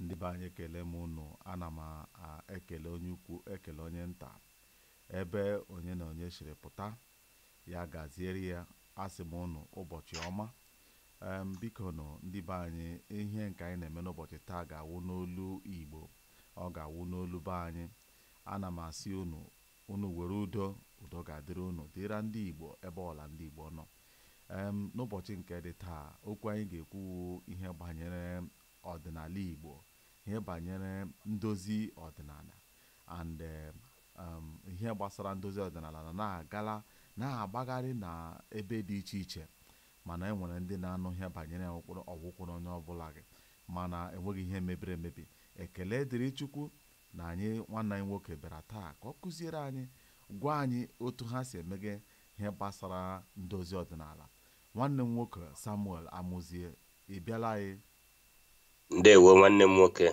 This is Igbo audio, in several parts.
ndị be anyị ekele m unu ana m ekele onye ukwu ekele onye nta ebe onye na onye siri pụta ya gaziere ya asị m unu ụbọchị ọma em biko nụ ndị be anyị ihe nke anyị na-eme n'ụbọchị taa ga-awụ n'olu igbo ọ ga-awụ n'olu be anyị ana m asị unu Unu were udo, udo ga-adịrị unu, dịra ndị Igbo ebe ọla ndị Igbo nọ. Em, N'ụbọchị nke dị taa, okwu anyị ga-ekwu wụ ihe banyere ọdịnala Igbo, ihe banyere ndozi ọdịnala and em, em, ihe gbasara ndozi ọdịnala na na-agala na-agbagharị na ebe dị iche iche mana e nwere ndị na-anụ ihe banyere ya ọwụkwụrụ ọwụkwụrụ onye ọbụla gị mana enweghị ihe mebiri emebi. Ekele dịrị Chukwu na anyị nwanne anyị nwoke bịara taa ka ọ kụziere anyị gwa anyị otu ha si emege ihe gbasara ndozi ọdịnala nwanne m nwoke Samuel Amuzie ị bịala anyị ndewo nwanne m nwoke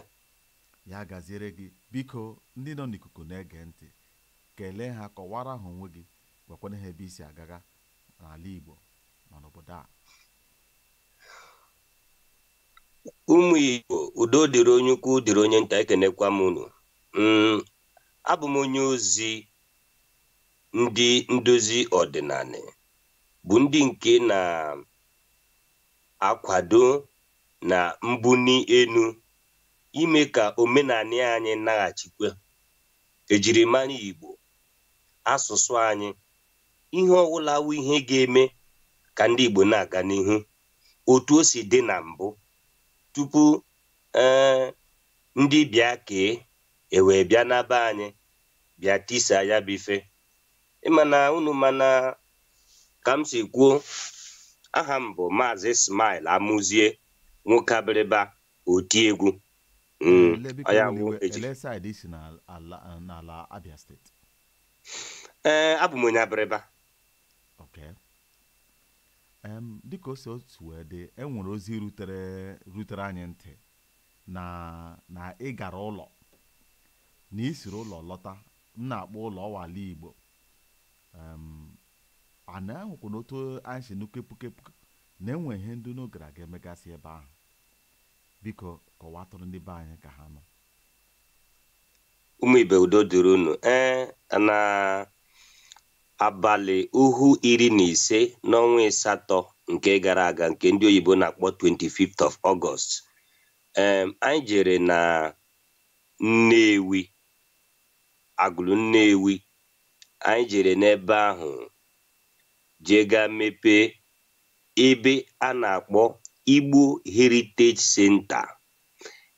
ya gaziere gị biko ndị nọ n'ikuku na-ege ntị kelee ha kọwara ha onwe gị gwakwana ha ebe i si agaga n'ala Igbo ma n'obodo a ụmụ Igbo udo dịrị onye ukwu dịrị onye nta ekenekwa m unu mm, abụ m onye ozi ndị ndozi ọdịnanị bụ ndị nke na-akwado na mbuni enu ime ka omenanị anyị naghachikwa ejirimara Igbo asụsụ anyị ihe ọwụla wụ ihe ga-eme ka ndị Igbo na-aga n'ihu otu o si dị na mbụ tupu ee eh, ndị bekee ewee bịa na be anyị bịa tisa ya bụ ife ịmana unu mana ka m si kwuo aha m bụ maazị Smile Amuzie nwoke abịrịba oti egwu hmm, ọ ya bụ eji ee eh, abụ m onye abịrịba Okay. Em, dịka o si o si wee dị e nwere ozi rutere rutere anyị ntị na na ị gara ụlọ na ị siri ụlọ lọta m na-akpọ ụlọ ọ wụ ala igbo Em, na e nwekwanụ otu anyị si nụ kepukepu na e nwere ihe ndị unu gara aga emegasị ebe ahụ biko kọwatụrụ ndị be anyị ka ha nụ ụmụ ibe udo dịrị unu ee na Abalị uhu iri na ise n'ọnwa ịsatọ nke gara aga nke ndị oyibo na-akpọ 25th of August em anyị jere na Nnewi Agụlụ Nnewi anyị jere n'ebe ahụ jee gaa mepee ebe a na-akpọ Igbo Heritage Center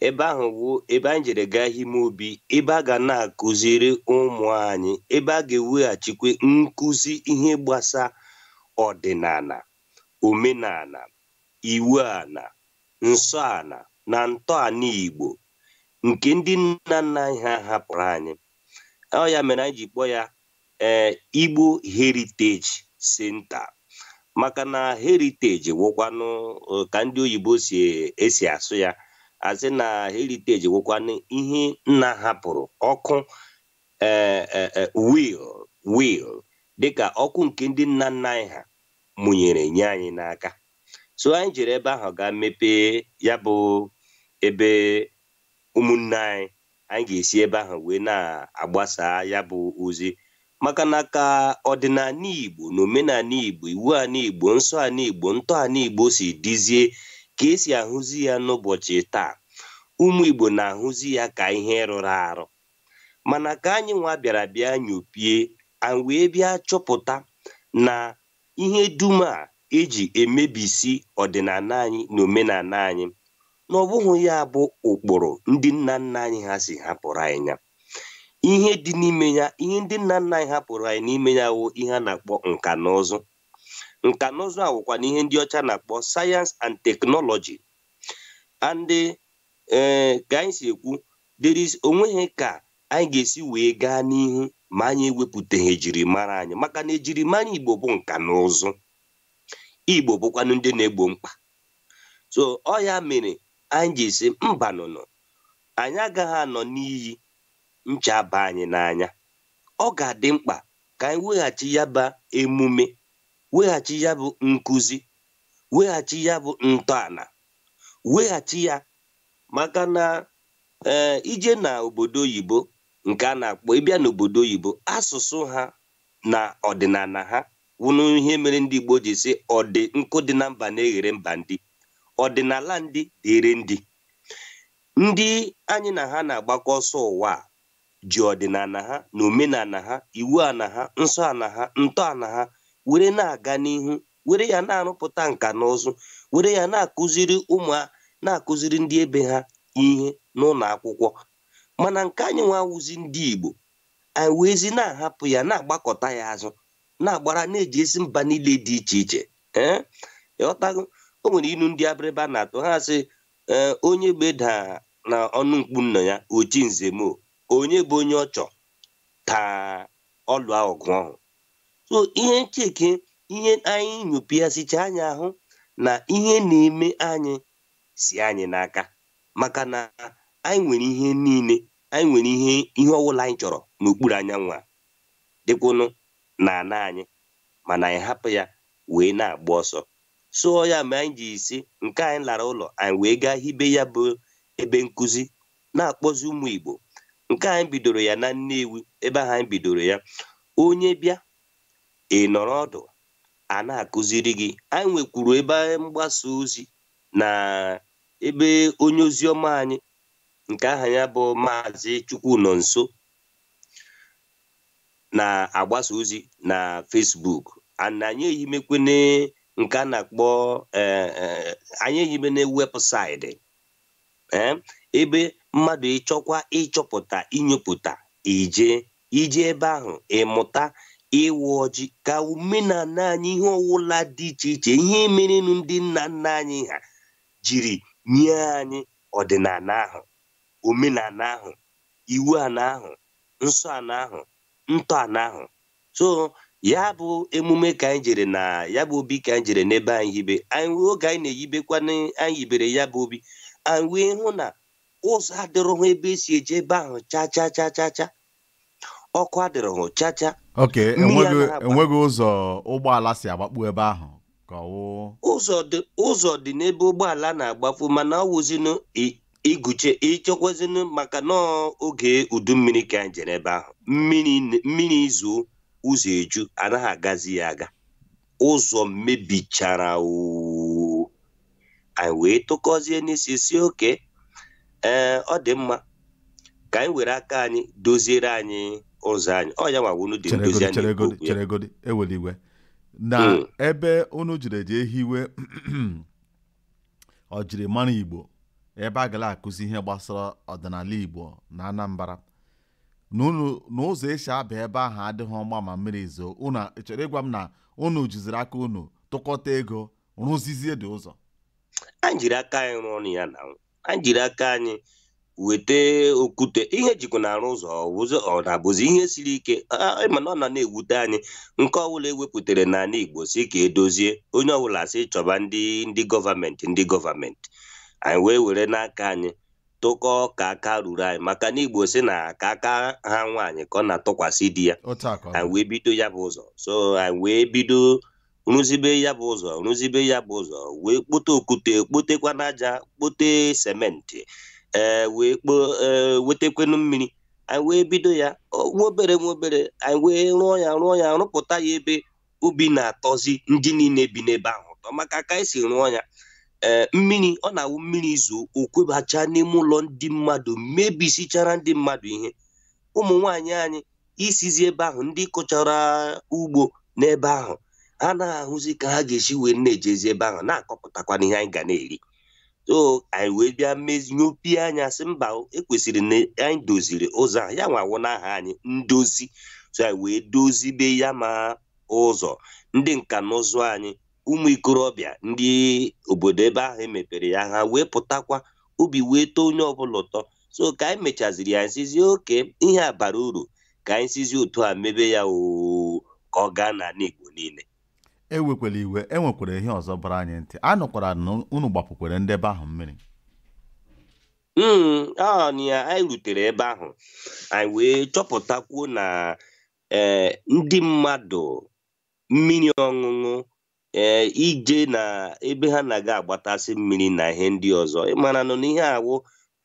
ebe ahụ wụ ebe anyị jere gaa ime obi ebe a ga na-akụziri ụmụ anyị ebe a ga-eweghachikwa nkụzi ihe gbasa ọdịnana omenana iwu ana nsọ ana na ntọana Igbo nke ndị nna nna anyị ha hapụrụ anyị ọ ya mere anyị ji kpọọ ya ee eh, Igbo Heritage Center maka na heritage wụkwanụ eh, ka ndị oyibo si esi asụ ya a sị na heritage wụkwanụ ihe nna hapụrụ ọkụ ee eh, will will dịka ọkụ nke ndị nna nna anyị ha mụnyere nye anyị n'aka so anyị jere ebe ahụ gaa mepee ya bụ ebe ụmụnne anyị anyị ga-esi ebe ahụ wee na-agbasa ya bụ ozi maka na ka ọdịnana Igbo na omenana Igbo iwu ana Igbo nsọ ana Igbo ntọ ana Igbo si dịzie ka e si ahụzi ya n'ụbọchị taa ụmụ Igbo na-ahụzi ya ka ihe rụrụ arụ mana ka anyị nwa bịara bịa nyopie anya wee bịa chọpụta na ihe dum a e ji emebisi ọdịnana anyị na omenana anyị na ọ bụghị ya bụ ụkpụrụ ndị nna nna anyị ha si hapụrụ anyị ya ihe dị n'ime ya ihe ndị nna nna anyị hapụrụ anyị n'ime ya wụ ihe a na-akpọ nka na ụzụ nka na ụzụ a wụkwanụ ihe ndị ọcha na-akpọ science and technology and ee eh, ka anyị si ekwu there is o nweghị ka anyị ga-esi wee gaa n'ihu ma anyị ewepụtaghị ejirimara anyị maka na ejirimara Igbo bụ nka na ụzụ Igbo bụkwanụ ndị na-egbo mkpa so ọ ya mere anyị ji sị mbanụnụ anyị agaghị anọ n'iyi ncha aba anyị n'anya ọ ga-adị mkpa ka anyị weghachi ya bụ emume weghachi ya bụ nkụzi weghachi ya bụ ntọana weghachi ya maka na ee ije na obodo oyibo nke a na-akpọ ịbịa n'obodo oyibo asụsụ ha na ọdịnana ha wụnụ ihe mere ndị Igbo ji sị ọdị nkụ dị na mba na-eghere mba nri ọdịnala ndị dịrị ndị ndị anyị na ha na-agbakọ ọsọ ụwa ji ọdịnana ha na omenana ha iwu ana ha nsọ ana ha ntọ ana ha were na-aga n'ihu were ya na-arụpụta nka na ụzụ were ya na-akụziri ụmụ na-akụziri ndị ebe ha ihe n'ụnọ akwụkwọ mana nke anyị nwa wụzi ndị Igbo anyị weezi na-ahapụ ya na-agbakọta ya azụ na-agbara na-ejesi mba niile dị iche iche ee ịghọtago o nwere inu ndị Abịrịba na-atụ ha sị ee onye gbeda na ọnụ mkpu nna ya oji nze mo onye bụ onye ọchọ ka ọlụ ahụ gụọ ọhụ so ihe ncheke ihe anyị nyopịasịcha anyị ahụ na ihe na-eme anyị si anyị n'aka maka na anyị nwere ihe niile anyị nwere ihe ihe ọwụla anyị chọrọ n'okpuru anyanwụ a dịkwanụ na ana anyị mana anyị hapụ ya wee na-agba ọsọ so ya ma anyị ji isi nke anyị lara ụlọ anyị wee gaa hibe ya bụ ebe nkụzi na-akpọzi ụmụ Igbo nke anyị bidoro ya na Nnewi ebe ahụ anyị bidoro ya onye bịa ị nọrọ ọdụ a na-akụziri gị anyị nwekwuru ebe mgbasa ozi na ebe onye ozi ọma anyị nke aha ya bụ Maazị Chukwunọnso na-agbasa ozi na Facebook and anyị ehibekwene nke a na-akpọ eh, eh, anyị ehibene website eh, ebe mmadụ ị chọkwa ịchọpụta inyopụta ije ije ebe ahụ ịmụta ịwa ọjị ka omenana anyị ihe ọwụla dị iche iche ihe merenụ ndị nna nna anyị ha jiri nye anyị ọdịnana ahụ omenana ahụ iwu ana ahụ nsọ ana ahụ ntọ ana ahụ so ya bụ emume ka anyị jere na ya bụ obi ka anyị jere n'ebe anyị hibe anyị oge anyị na-eyibekwa anyị yibere ya bụ obi anyị wee hụ na ụzọ adịrọhụ ebe e si eje ebe ahụ cha cha cha cha cha ọkụ adịrọhụ cha cha ok enweghị ụzọ ụgbọala si agbakpu ebe ahụ ụzọ dị n'ebe ụgbọala na-agbafu mana ọ wụzinụ iguche ịchọkwazinu maka na oge udu mmiri ka anyị jere ebe ahụ mmiri zoo ụzọ eju a naghị agazi ya aga ụzọ mebichara anyị wee tụkọzie n'isi sị okay ọ dị mma ka anyị were aka anyị doziere anyị ụzọ anyị ọ ya nwa unu dị ndozi cheregodi anyị cheregodi okwu ya. cheregodi ewela iwe na Mm. ebe unu jiri eji ehiwe ọ jiri mara Igbo ebe a ga na-akụzi ihe gbasara ọdịnala Igbo na Anambra na unu na ụzọ e si aba ebe ahụ adịghị mma ma mmiri zoo unu chọrọ ịgwa m na unu jiziri aka unu tụkọta ego rụzizie dị ụzọ anyị jiri aka anyị rụọ ọrụ ya na anyị jiri aka anyị weta okwute ihe e jikwa na-arụ ụzọ ụzọ ọ na-abụzi ihe siri ike a- a- mana ọ na na-ewute anyị nke ọbụla ewepụtara n'ala Igbo sị ka e dozie onye ọbụla sị chọba ndị ndị gọọmenti ndị gọọmenti anyị wee were n'aka anyị tụkọọ ka aka ruru anyị maka na Igbo sị na ka aka ha nwaanyị ka ọ na-atụkwasị di ya otu a ka ọ anyị wee bido ya bụ ụzọ so anyị wee bido rụzibe ya bụ ụzọ rụzibe ya bụ ụzọ wee kpote okwute kpotekwanụ aja kpote sementi ee wee kpo ee wetekwenụ mmiri anyị wee bido ya ọ- nwa obere nwa obere anyị wee rụọ ya rụọ ya rụpụta ya ebe obi na-atọzi ndị niile bi n'ebe ahụ ụtọ maka ka anyị si rụọ ya ee mmiri ọ na-awụ mmiri zoo o kwobacha n'ime ụlọ ndị mmadụ mebisichara ndị mmadụ ihe ụmụ nwaanyị anyị isizi ebe ahụ ndị kọchara ugbo n'ebe ahụ ha na-ahụzi ka ha ga-esi wee na-ejezi ebe ahụ na-akọpụtakwanụ ihe anyị ga na-eri so anyị wee bịa mezi nyopie anya sị mba ekwesịrị na anyị doziri ụzọ ahụ ya nwa wụ n'aha anyị ndozi so anyị wee dozibe ya ma ụzọ ndị nka na ụzụ anyị ụmụ ikorobịa ndị obodo ebe ahụ emepere ya ha wee pụtakwa obi wee tọọ onye ọbụla ụtọ so ka anyị mechaziri ya anyị sịzị okay ihe a bara uru ka anyị sizi otu a mebe ya oo ka ọ gaa n'ala Igbo niile ewekwala iwe e nwekwara ihe ọzọ bara anyị ntị a nụkwara na unu gbapukwara ndị ebe ahụ mmiri Mm, ọ na ya anyị rutere ebe ahụ anyị wee chọpụtakwuo na ee ndị mmadụ mmiri ọṅụṅụ ee ije na ebe ha na-aga agbatasị mmiri na ihe ndị ọzọ ị maranụ na ihe a wụ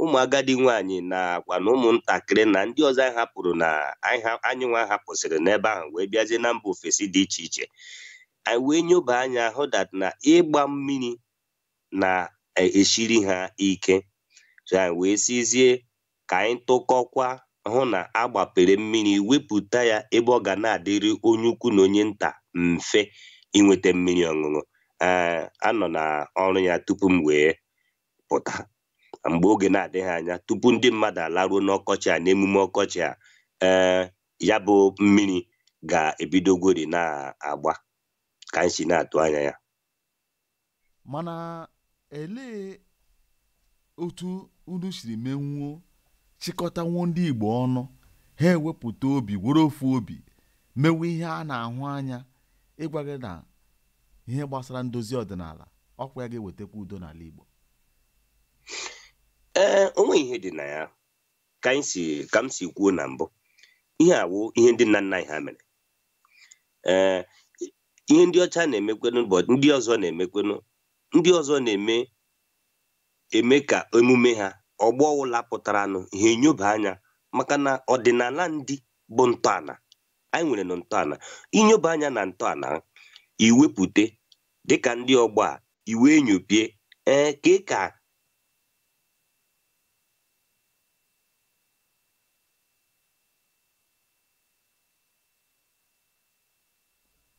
ụmụ agadi nwaanyị nakwa na ụmụntakịrị na ndị ọzọ anyị hapụrụ na anyị ha- anyị nwa hapụsịrị n'ebe ahụ wee bịazie na mba ofesi dị iche iche anyị wee nyoba anya hụ that na ịgba mmiri na-esiri ha ike so anyị wee sịzie ka anyị tụkọkwa hụ na a gbapere mmiri wepụta ya ebe ọ ga na-adịrị onye ukwu na onye nta mfe inweta mmiri ọṅụṅụ ee a nọ na ọrụ ya tupu m wee pụta mgbe oge na-adịghị anya tupu ndị mmadụ alaruo n'ọkọchị a n'emume ọkọchị a ee ya bụ mmiri ga-ebidogori na-agba ka anyị si na-atụ anya ya mana elee otu unu siri menwuo chịkọtanwuo ndị Igbo ọnụ ha ewepụta obi were ofu obi mewe ihe a na-ahụ anya ịgwa gị na ihe gbasara ndozi ọdịnala ọkwa ya ga-ewetakwa udo n'ala Igbo ee o nweghị ihe dị na ya ka anyị si ka m si kwuo na mbụ ihe a wụ ihe ndị nna nna anyị ha mere ee ihe ndị ọcha na-emekwanụ but ndị ọzọ na-emekwanụ ndị ọzọ na-eme eme ka emume ha ọgbọ ọwụla pụtaranụ ha enyoba anya maka na ọdịnala ndị bụ ntọala anyị nwere na ntọala inyoba anya na ntọala iwepụte dịka ndị ọgbọ a iwe enyopie ee ka ị ka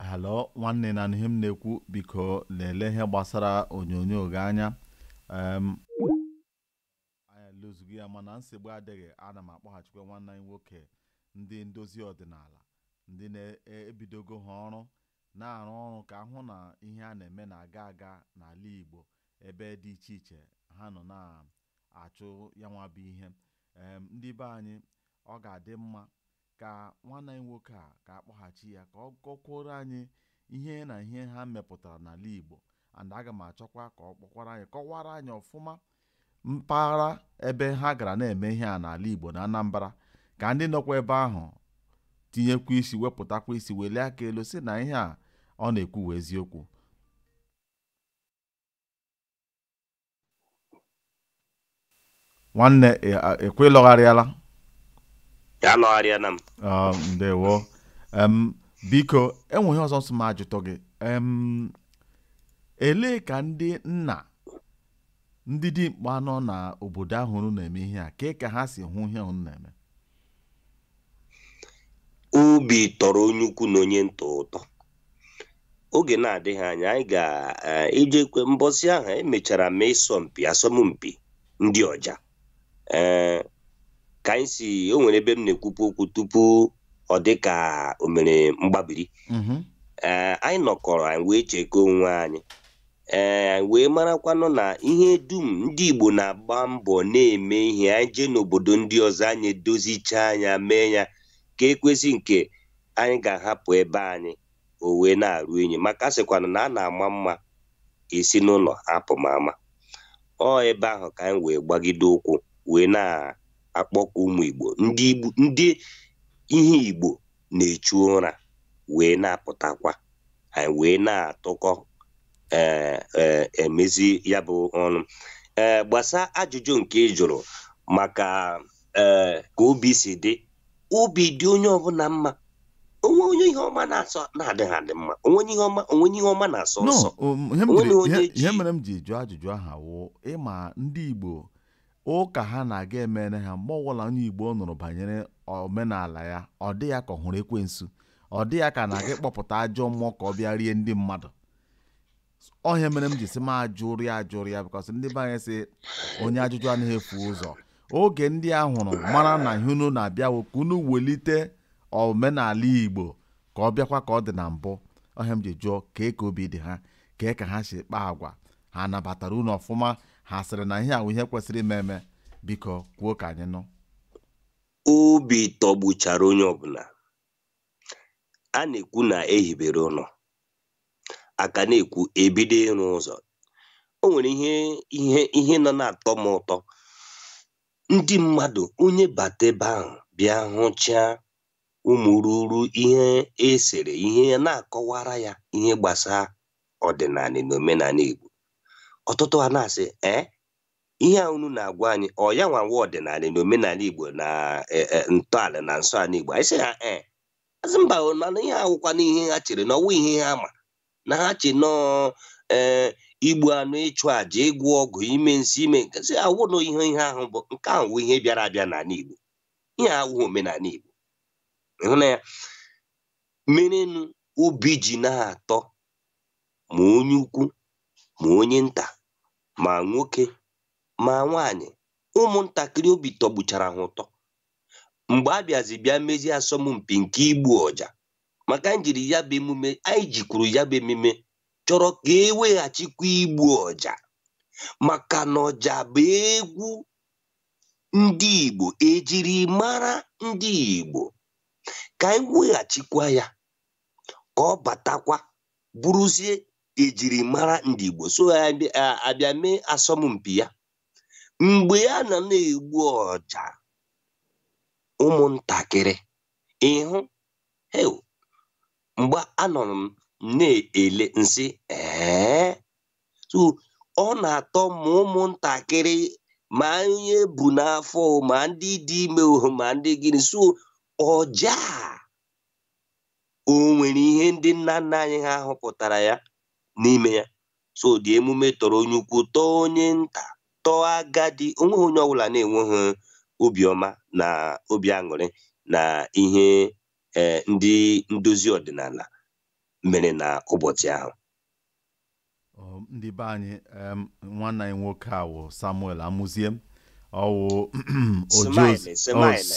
halo nwanne ị na-anụ ihe m na-ekwu biko lelee ihe gbasara onyonyo gị anya anyị ahụzughị ya mana nsogbu adịghị ana m akpọghachikwa nwanne anyị nwoke ndị ndozi ọdịnala ndị na-ebidogo ha ọrụ na-arụ ọrụ ka a hụ na ihe a na-eme na-aga aga n'ala Igbo ebe dị iche iche ha nọ na-achụ ya nwa bụ ihe ndị be anyị ọ ga-adị mma ka nwanne anyị nwoke a ka a kpọghachi ya ka ọ kọkwuoro anyị ihe na ihe ha mepụtara n'ala Igbo and aga m achọkwa ka ọ kpọkwara anyị kọwara anyị ọfụma mpaghara ebe ha gara na-eme ihe a n'ala Igbo na Anambra ka ndị nọkwa ebe ahụ tinyekwa isi wepụtakwa isi welie aka elu sị na ihe a ọ na-ekwu wụ eziokwu nwanne ikwu ị lọgharịala alọgharịala m ah, ndewo biko e nwe ihe ọzọ m sị m ajụtụ gị elee ka ndị nna ndị dimkpa nọ n'obodo ahụ unu na-eme ihe a kee ka ha si hụ ihe unu na-eme obi tọrọ onye ukwu na onye nta ụtọ oge na-adịghị anya anyị ga-ejekwa mbọsị ahụ anyị mechara ma ịsọmpi asọmpi ndị ọja ee ka anyị si o nwere ebe m na-ekwubu okwu tupu ọ dị ka o mere mgbabiri ee anyị nọkọrọ anyị wee chekọọ onwe anyị ee wee marakwanụ na ihe dum ndị Igbo na-agba mbọ na-eme ihe anyị jee n'obodo ndị ọzọ anyị edozichaa anya mee ya ka e kwesị nke anyị ga-ahapụ ebe anyị o wee na-eru inyi maka a sịkwanụ na a na-ama mma esi n'ụlọ apụma ama ọ ebe ahụ ka anyị wee gbagide ụkwụ wee na-akpọkọ ụmụ Igbo ndị Igbo ndị ihe Igbo na-echu ụra wee na-apụtakwa anyị wee na-atụkọ ee ee emezi ya bụ ọrụ ee gbasa ajụjụ nke ị jụrụ maka ee ka obi si dị obi dị onye ọbụla mma o nwe onye ihe ọma na-asọ na-adịghị adị mma o nwe onye ihe ọma o nwe onye ihe ọma na-asọ no nsọ um, ihe m o nwe jiri- onye ihe- ji- ihe mere m ji jụọ ajụjụ ahụ wụ ị ma ndị Igbo ụka ha na-aga emere ha mgbe ọbụla onye igbo nụrụ banyere omenala ya ọ dị ya ka ọ hụrụ ekwensu ọ dị ya ka a na-aga ịkpọpụta ajọ mmụọ ka ọ bịa rie ndị mmadụ ọ ihe mere m ji sị m ajụrụ ya ajụrụ ya because ndị be anyị sị onye ajụjụ anaghị efu ụzọ oge ndị a hụrụ mara na ihe unu na-abịa wụ ka unu welite omenala igbo ka ọ bịakwa ka ọ dị na mbụ ọ ihe m ji jụọ kee ka obi dị ha kee ka ha si kpaa agwa ha nabatara unu ọfụma ha sịrị na ihe a wụ ihe kwesịrị ime eme biko kwuo ka anyị nụ obi tọgbuchara onye ọbụla a na-ekwu na ehibere ụlọ a ka na-ekwu ebido ịrụ ụzọ o nwere ihe ihe ihe nọ na-atọ m ụtọ ndị mmadụ onye bata ebe ahụ bịa hụchaa ụmụ ruru ihe esere ihe ya na-akọwara ya ihe gbasara ọdịnala na omenala Igbo ọtụtụ a na-asị ee ihe a unu na-agwa anyị ọ ya nwa wụ ọdịnala na omenala Igbo na e, e, ntọala na nsọ ala Igbo anyị sị ha ee asị mba mana ihe a awụkwanụ ihe ha chere na ọ wụ ihe ha ma na ha che na ọ ee igbu anụ ịchụ àjà ịgwọ ọgwụ ime nsi ime nkesị awụnụ ihe ihe ahụ bụ nke ahụ wụ ihe bịara abịa n'ala Igbo ihe a awụghị omenala Igbo ị hụ na ya merenụ obi ji na-atọ ma onye ukwu ma onye nta ma nwoke ma nwaanyị ụmụntakịrị obi tọgbuchara ha ụtọ mgbe a bịazi bịa mezie asọmpi nke igbu ọja maka njiri ya bụ emume anyị jikwuru ya bụ emume chọrọ ka eweghachikwa igbu ọja maka na ọja bụ egwu ndị Igbo ejiri mara ndị Igbo ka anyị weghachikwa ya ka ọ batakwa bụrụzie ejiri mara ndị Igbo so abịa mee asọmpi ya mgbe ya na na-egbu ọja ụmụntakịrị ịhụ mgbe anọrọ m na-ele nsị ee so ọ na-atọ ma ụmụntakịrị ma onye e bu n'afọ ma ndị dị ime ma ndị gịnị so ọja o nwere ihe ndị nna nna anyị ha hụpụtara ya n'ime ya so the emume tọrọ onye ukwu tọọ onye nta tọọ agadi onweghị onye ọbụla na-enweghị obiọma na obi aṅụrị na ihe e, ndị ndozi ọdịnala mere na ụbọchị ahụ ndị be anyị nwanne anyị nwoke a wụ samuel amụzie ọ wụ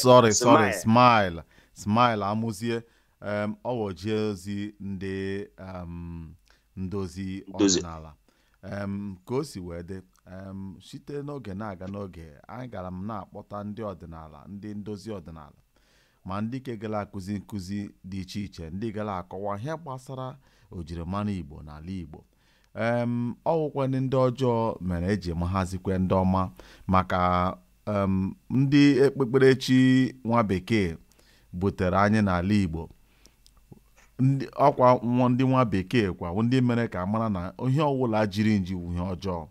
sorry sorry smile smile amụzie ọ wụ oji ozi ndị ndozi ọdịnala ka o si wee dị site n'oge na-aga n'oge agara m na-akpọta ndị ọdịnala ndị ndozi ọdịnala ma ndị nke gara akụzi nkụzi dị iche iche ndị gara akọwa ihe gbasara ojirimara igbo n'ala igbo em ọ wụkwa ndị ndị ọjọọ mere eji mahazikwe ndị ọma maka em ndị okpukperechi nwa bekee butere anyị n'ala igbo ndị ọkwa nwa ndị nwa bekee kwa ndị mere ka a mara na ihe ọ wụla jiri nji wụ ihe ọjọọ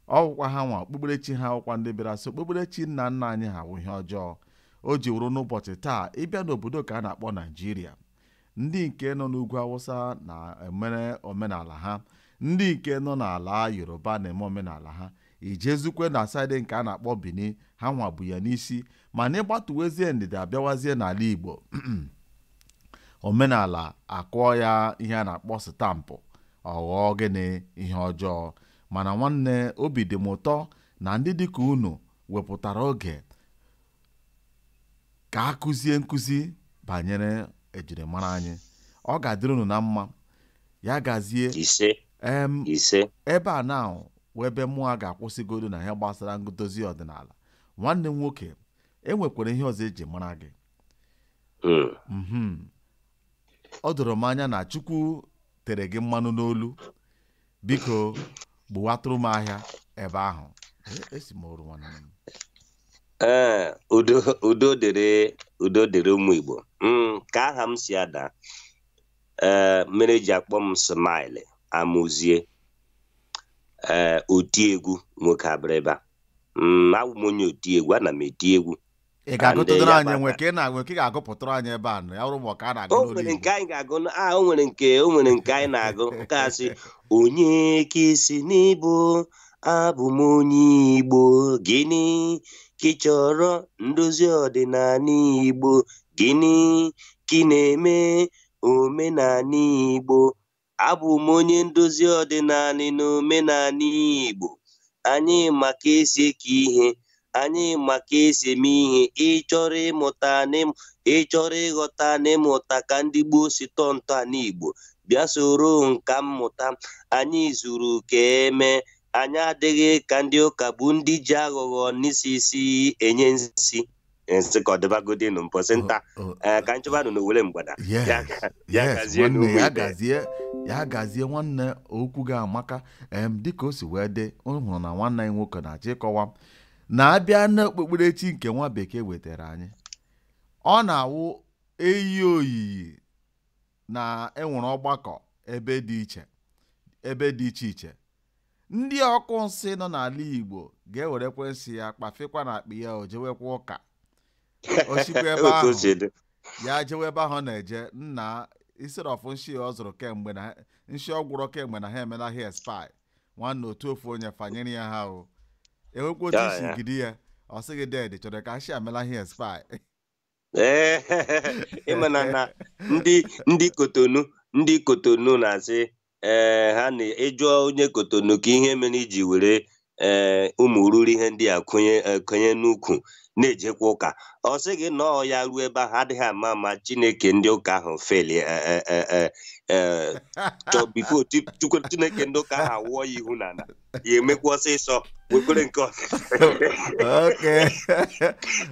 ọ wụkwa ha nwa okpukperechi ha wụkwa ndị bịara sị okpukperechi nna nna anyị ha wụ ihe ọjọọ o ji wụrụ n'ụbọchị taa ị bịa n'obodo ka a na-akpọ naijiria ndị nke nọ n'ugwu awụsa na-emere omenala ha ndị nke nọ n'ala yoruba na-eme omenala ha i jezukwe na side nke a na-akpọ bini ha nwa bu ya n'isi mana ị gbatuwezie ndịda abịawazie n'ala igbo omenala a kụọ ya ihe a na-akpọ stamp ọ ghọọ gịnị ihe ọjọọ mana nwanne obi dị m ụtọ na ndị dịka unu wepụtara oge ka a kụzie nkụzi banyere ejirimara anyị ọ ga-adịrị unu na mma ya gazie ise em ise ebe a na wụ ebe mụ a ga-akwụsịgodu na ihe gbasara ndozi ọdịnala nwanne m nwoke e nwekwara ihe ọzọ eji mara gị Mm. Mhm. ọ doro m anya na chukwu tere gị mmanụ n'olu biko gbuwatụrụ m ahịa ebe ahụ E- esi m oru nwanne m ee udo udo dịrị udo dịrị ụmụ igbo Mm, ka aha m si ada ee mere eji akpọ m smile amụzie ee oti egwu nwoke abịrịba Mm, awụ m onye oti egwu ana m eti egwu ị ga-agụtụdịrị ya anyị gbata. nwe ka ị na-agụ ka ị ga-agụpụtụrụ anyị ebe a nụ ya bụrụ ma ọ ka a na-agụ o n'olu nwere Igbo. nke anyị ga-agụ na- a o nwere nke o nwere nke anyị na-agụ nke a sị onye ka ị sị na ị bụ abụ m onye igbo gịnị ka ị chọrọ ndozi ọdịnanị igbo gịnị ka ị na-eme omenanị igbo Abụ m onye ndozi ọdịnanị na omenanị Igbo. Anyị ma ka e si eke ihe, anyị ma ka e si eme ihe. Ị chọrọ ịmụta na ịm- ị chọrọ ịghọta na ịmụta ka ndị gboo si tọọ ntọana Igbo, bịa soro nka mmụta. Anyị zuru ka e mee, anyị adịghị ka ndị ụka bụ ndị ji aghụghọ n'isi isi enye nsi. nsị ka ọ dịbagodi nụ mposi nta Oh, oh, ee ka achụba nụ n'owere mgbada yes, ya ga- ya yes, gazie nwanne n'ugwu ya ibe. gazie ya gazie nwanne okwu gị amaka em dịka o si wee dị ọ hụrụ na nwanne anyị nwoke na-achọ ịkọwa m na abịa n'okpukperechi nke nwa bekee wetara anyị ọ na-awụ eyi oyiyi na enwere ọgbakọ ebe dị iche ebe dị iche iche ndị ọkọ nsị nọ n'ala igbo ga-ewerekwa nsị ya kpafekwa na akpa ya o jewekwa ụka osikwa ebe ahụ ya jewe ebe ahụ na-eje nna isiri ọfụ nshi ọ zụrụ kemgbe na nshi ọ gwụrọ kemgbe na ha emela expire nwanne otu ofu onye fanyere ya ha o nwekwa otu isi gidi ya ọ sị gị ded chọrọ ka nshi a emela expire ị mana na ndị ndị kotonu ndị kotonu na-asị ee ha na ị jụọ onye kotonu kee ihe mere iji were ee ụmụ ruru ihe ndị a kenye eh, kenye n'ukwu na-ejekwa ụka ọ sị gị na ọ ya ruo ebe ahụ adịghị ama ama chineke ndị ụka ahụ fail before chineke ndị ụka ahụ awụọ ya ihu n'ala ya emekwa ọsịsọ wekwere nke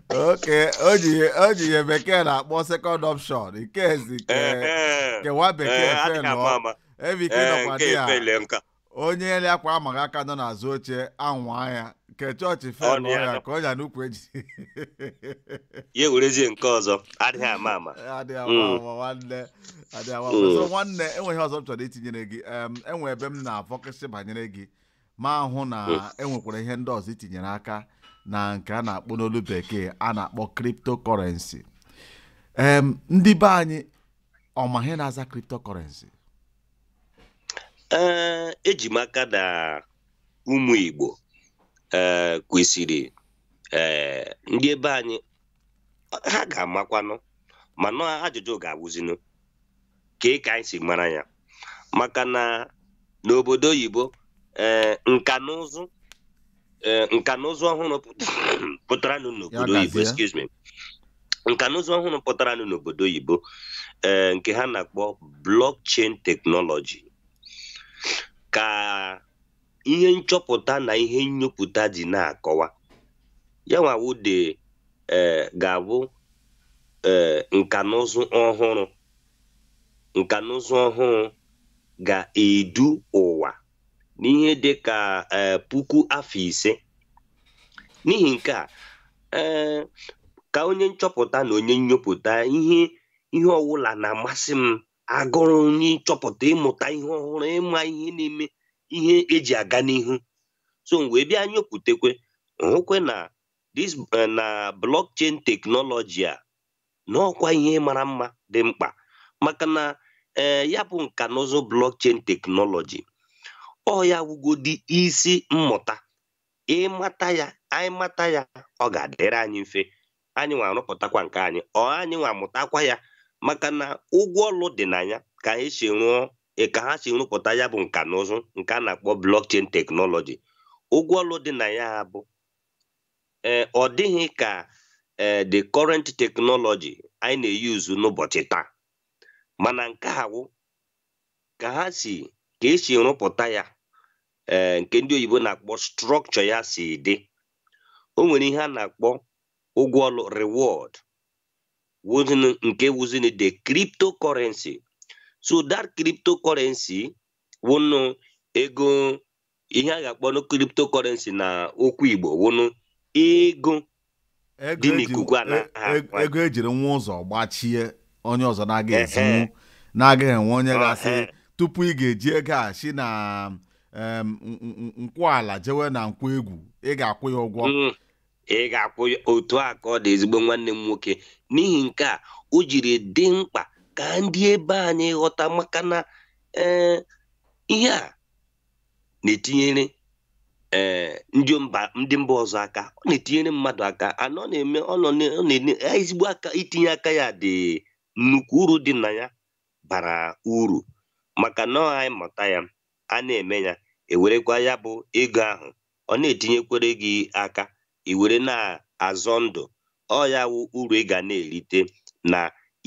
oke o ji ihe bekee na-akpọ second option nke ezi kewa bekee fe nọ ebe ike nọkwa dị ya onye ele akwa amaghị aka nọ n'azụ oche anwa ya nke chọọchị fail ya ka ọ ya n'ukwu eji ya ewerezie nke ọzọ adịghị ama ama adịghị ama ama nwanne Adị awa Mm. ọzọ nwanne enwe ihe ọzọ m chọrọ itinyere gị em, enwe ebe m na-afocus banyere gị m ahụ na Mm. enwekwara ihe ndị ọzọ i tinyere aka na nke a na-akpọ n'olu bekee a na-akpọ cryptocurrency em ndị be anyị ọ ma ihe na-aza cryptocurrency ee eji m aka na ụmụ igbo ee kwesịrị ee ndị ebe anyị ha ga-amakwanụ mana ajụjụ ga-awụzinụ kee ka anyị si mara ya maka na n'obodo oyibo ee eh, nka na ụzụ ee eh, nka na ụzụ ọhụrụ pụtara n'obodo oyibo excuse me nka na ụzụ ọhụrụ pụtara n'obodo oyibo ee eh, nke ha na-akpọ blockchain technology ka ihe nchọpụta na ihe nnyopụta ji na-akọwa ya nwa wụ dị ee ga-abụ ee nka na ụzụ ọhụrụ nka na ụzụ ọhụrụ ga-edu ụwa n'ihe dị ka ee puku afọ ise n'ihi nke a ee ka onye nchọpụta na onye nnyopụta ihe ihe ọwụla na-amasị m agụrụ onye ịchọpụta ịmụta ihe ọhụrụ ịma ihe na-eme ihe eji aga n'ihu so m wee bịa nyoputekwe hụkwe na this eh, na blockchain teknọlọji a na ọkwa ihe mara mma dị mkpa maka na ee eh, ya bụ nka na ụzụ blockchain teknọlọji ọ ya wụgodị isi mmụta ịmata ya anyị mata ya ọ ga-adịrị anyị mfe anyị nwa arụpụtakwa nke anyị or anyị nwa mụtakwa ya maka na ụgwọ ọlụ dị na ya ka anyị si rụọ e, ka ha si rụpụta ya bụ nka na ụzụ nke a na-akpọ blockchain teknọlọji ụgwọ ọlụ dị na ya bụ ee ọ dịghị ka ee the current technology anyị na-eyuzu n'ụbọchị taa mana nke a wụ ka ha si ka e si rụpụta ya ee nke ndị oyibo na-akpọ structure ya si dị o nwere ihe a na-akpọ ụgwọ ọlụ reward wụzịnị nke wụzịnị the cryptocurrency so that cryptocurrency wụnụ ego ihe a ga-akpọnụ cryptocurrency na okwu igbo wụnụ ego Ego dị eji- n'ikuku a e- na-aha e- akwa. ego e jiri nwa ụzọ gbachie onye ọzọ na-agaghị Ehe. ezinwu na-agaghị enwe onye Ọ, ga-asị eh. tupu ị ga-eji ego a si na em, n- n- Nkwọ Ala jewe na Nkwọ Egwu ị ga-akwụ ya ụgwọ Mm. ị ga-akwụ ya otu a ka ọ dị ezigbo nwanne m nwoke n'ihi nke a o jiri dị mkpa ka ndị ebe anyị ghọta maka na ee, ihe a na-etinyere ee eh, ndị mba ndị mba ọzọ aka ọ na-etinyere mmadụ aka anọ na-eme ọ na-enye ezigbo aka itinye aka ya dị nnukwu uru dị na ya bara uru maka na anyị mụta ya a na-eme ya e werekwa ya bụ ego ahụ ọ na-etinyekwere gị aka iwere na-azọ ndụ ọ ya wụ uru ị ga na-erite na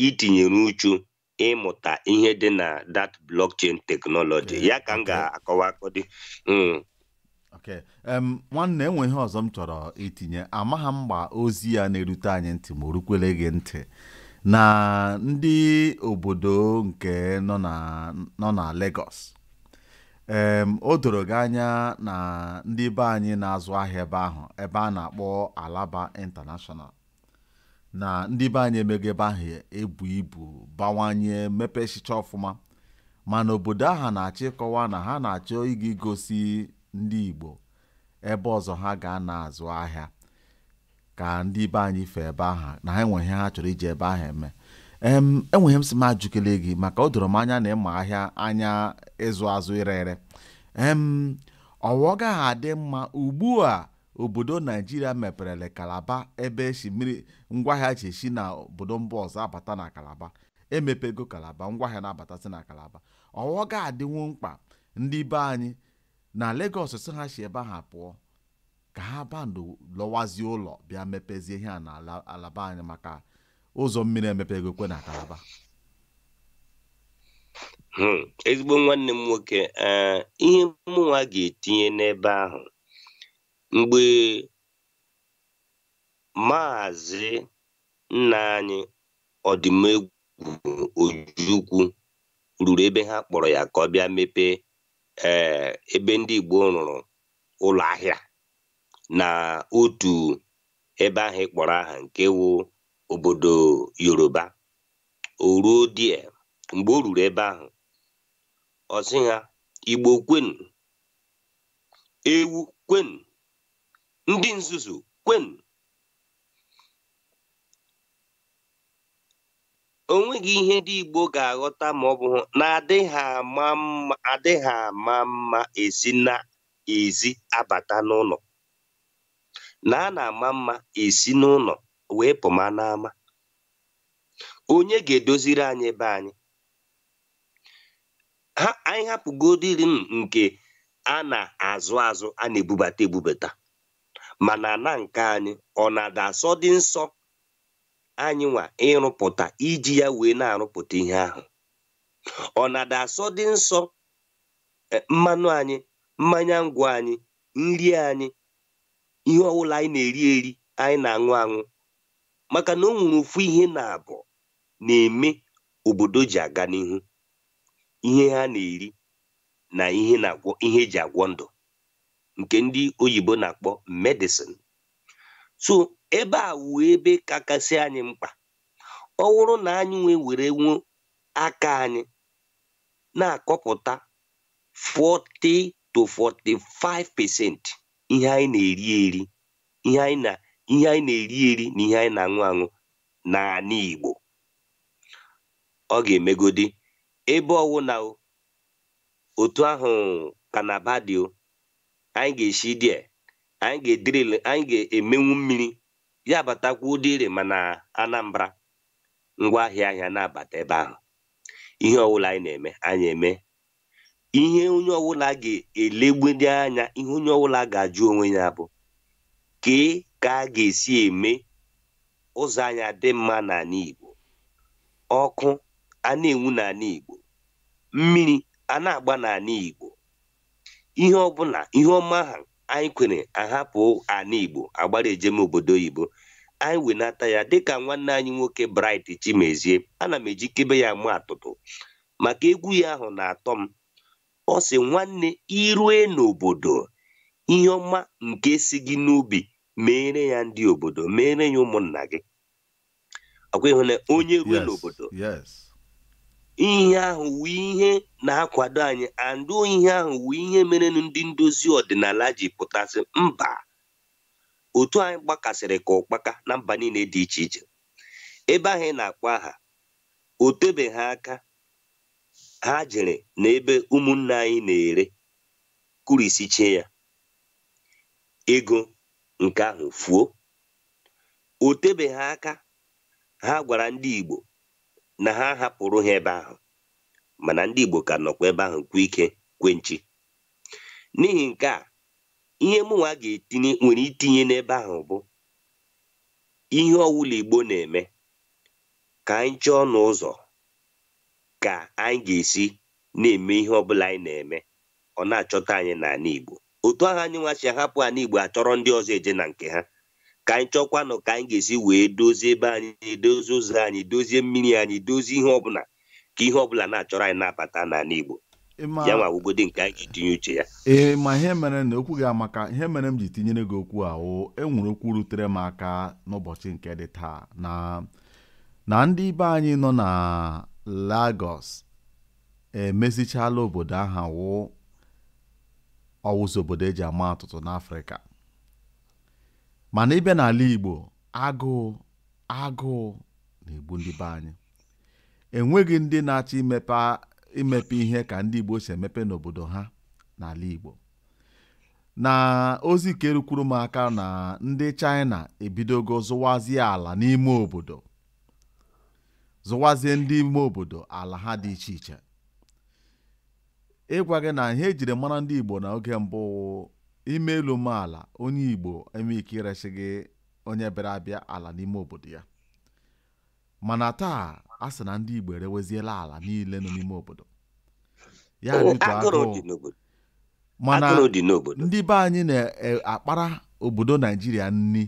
itinyere uchu ịmụta ihe dị na that blockchain technology ya ka m ga-akọwa akọdị hmm. okay um, nwanne e nwe ihe ọzọ m chọrọ itinye amaghị m gba ozi ya na-erute anyị ntị ma o rukwele gị ntị na ndị obodo nke nọ na nọ na Lagos um, o doro gị anya na ndị be anyị na-azụ ahịa ebe ahụ ebe a na-akpọ Alaba International na ndị be anyị emego ebe ahụ ebu ibu bawanye mepesicha ọfụma mana obodo ahụ na-achọ ịkọwa na ha na-achọ ịga igosi ndị Igbo ebe ọzọ ha ga na-azụ ahịa ka ndị be anyị fụọ ebe ahụ na ha nwe ihe ha chọrọ iji ebe ahụ eme e nwe ihe m sị m ajụkele gị maka o doro m anya na ị ma ahịa anya ịzụ azụ ire ere ọwa ọ gaghị adị mma ugbu a obodo naijiria meperela kalaba ebe esi mmiri ngwaahịa ji esi na obodo mba ọzọ abata na kalaba emepego kalaba ngwaahịa na-abatasị na kalaba ọghọ ga-adịnwu mkpa ndị be anyị na Lagos sị ha si ebe ha pụọ ka ha bandụ lọwazie ụlọ bịa mepezie ihe a na ala- ala be anyị maka ụzọ mmiri emepegokwa na kalaba Hmm, ezigbo nwanne m nwoke ee ihe mụnwa ga-etinye n'ebe ahụ mgbe maazị nna anyị odumegwu ojukwu ruru ebe ha kpọrọ ya ka ọ bịa mepee ee eh, ebe ndị Igbo rụrụ ụlọ ahịa na otu ebe ahụ ị kpọrọ aha nke wụ obodo Yoruba o ruo die mgbe o ruru ebe ahụ ọ sị ha Igbo kwenu ewu kwenu ndị nzuzu kwenu o nweghị ihe ndị Igbo ga-aghọta ma ọ bụ na adịghị ama mma adịghị ama mma esi na ezi abata n'ụlọ na a na-ama mma esi n'ụlọ wee pụma n'ama onye ga-edoziri anyị be anyị ka anyị hapụgodiri nke a na-azụ azụ a na-ebubata ebubata mana na nke anyị ọ na-ada asọdị nsọ anyị nwa ịrụpụta iji ya wee na-arụpụta ihe ahụ ọ na-ada asọdị nsọ e, mmanụ anyị mmanya ngwọ anyị nri anyị ihe ọwụla anyị na-eri eri anyị na-aṅụ aṅụ maka na o nwere ofu ihe na-abụ na-eme obodo o ji aga n'ihu ihe ha na-eri na ihe na-agwọ ihe e ji agwọ ndụ nke ndị oyibo na-akpọ medicine so ebe a wụ ebe kakasị anyị mkpa ọ wụrụ na anyị nwa werenwu aka anyị na-akọpụta 40 to 45 percent ihe anyị na-eri eri ihe anyị na ihe anyị na-eri eri na ihe anyị na-aṅụ aṅụ n'anị Igbo ọ ga-emegodi ebe ọwụ na o otu ahụ kalaba dị o anyị ga-esi dị a, anyị ga-ediril anyị ga-emenwu mmiri ya batakwa ụdị ire mana Anambra ngwa ahịa ahịa na-abata ebe ahụ ihe ọwụla anyị na-eme anyị eme ihe onye ọbụla ga-elegbede anya ihe onye ọbụla ga-ajụ onwe ya bụ kee ka a ga-esi eme ụzọ anyị adị mma n'anị Igbo ọkụ a na-enwu n'anị Igbo mmiri a na-agba n'anị Igbo ihe ọbụla ihe ọma ahụ anyị kwere ahapụ anị Igbo agbara eje n'obodo oyibo anyị wenata ya dịka nwanne anyị nwoke Bright Chimezie ana m ejikebe ya ama atụtụ maka egwu ya ahụ na-atọ m ọ sị nwanne i rue n'obodo ihe ọma nke si gị n'obi meere ya ndị obodo meere ya ụmụnna gị ọkwa ịhụ na onye rue n'obodo ihe ahụ wụ ihe na-akwado anyị andụ ihe ahụ wụ ihe mere ndị ndozi ọdịnala ji pụta sị mba otu anyị gbakasịrị ka ụkpaka na mba niile dị iche iche ebe ahụ ị na-akpọ aha o tebeghị aka ha jere n'ebe ụmụnne anyị na-ere kurisichie ya ego nke ahụ fuo o tebeghị aka ha gwara ndị Igbo na ha hapụrụ ha ebe ahụ mana ndị Igbo ka nọkwa ebe ahụ kwe ike kwe nchi n'ihi nke a ihe mụnwa ga-etinye nwere itinye n'ebe ahụ bụ ihe ọwụla Igbo na-eme ka anyị chọọnụ ụzọ ka anyị ga-esi na-eme ihe ọ bụla anyị na-eme ọ na-achọta anyị n'anị Igbo otu ahụ anyị nwa si ahapụ anị Igbo achọrọ ndị ọzọ eje na nke ha ka anyị chọkwanụ ka anyị ga-esi wee dozie ebe anyị dozie ụzọ anyị dozie mmiri anyị dozie ihe ọbụla ka ihe ọbụla na-achọrọ anyị na-abata n'anị Igbo ya nwa awụgodi nke anyị ji tinye uche ya ee ma ihe mere na okwu gị amaka ihe mere m ji tinyere gị okwu a o enwere okwu rutere m aka n'ụbọchị nke dị taa na na ndị be anyị nọ na Lagos emezichala obodo aha wụ ọ wụzi obodo eji ama atụtụ n'Afrịka mana ịbịa n'ala Igbo agụụ agụụ na-egbu ndị be anyị enweghị ndị na-achọ imepe ihe ka ndị Igbo si emepe n'obodo ha n'ala Igbo na ozi ka erukwuru m aka na ndị China ebidogo zụwazie ala n'ime obodo zụwazie ndị ime obodo ala ha dị iche iche ịgwa gị na ihe ejiri mara ndị Igbo na oge mbụ i mee elu mee ala onye Igbo enwe ike iresi gị onye bịara abịa ala n'ime obodo ya mana taa a sị na ndị Igbo ereweziela ala niile nọ n'ime obodo ya dị otu agụrụ agụụ dị n'obodo mana agụrụ dị n'obodo ndị be anyị na-akpara obodo naijiria nri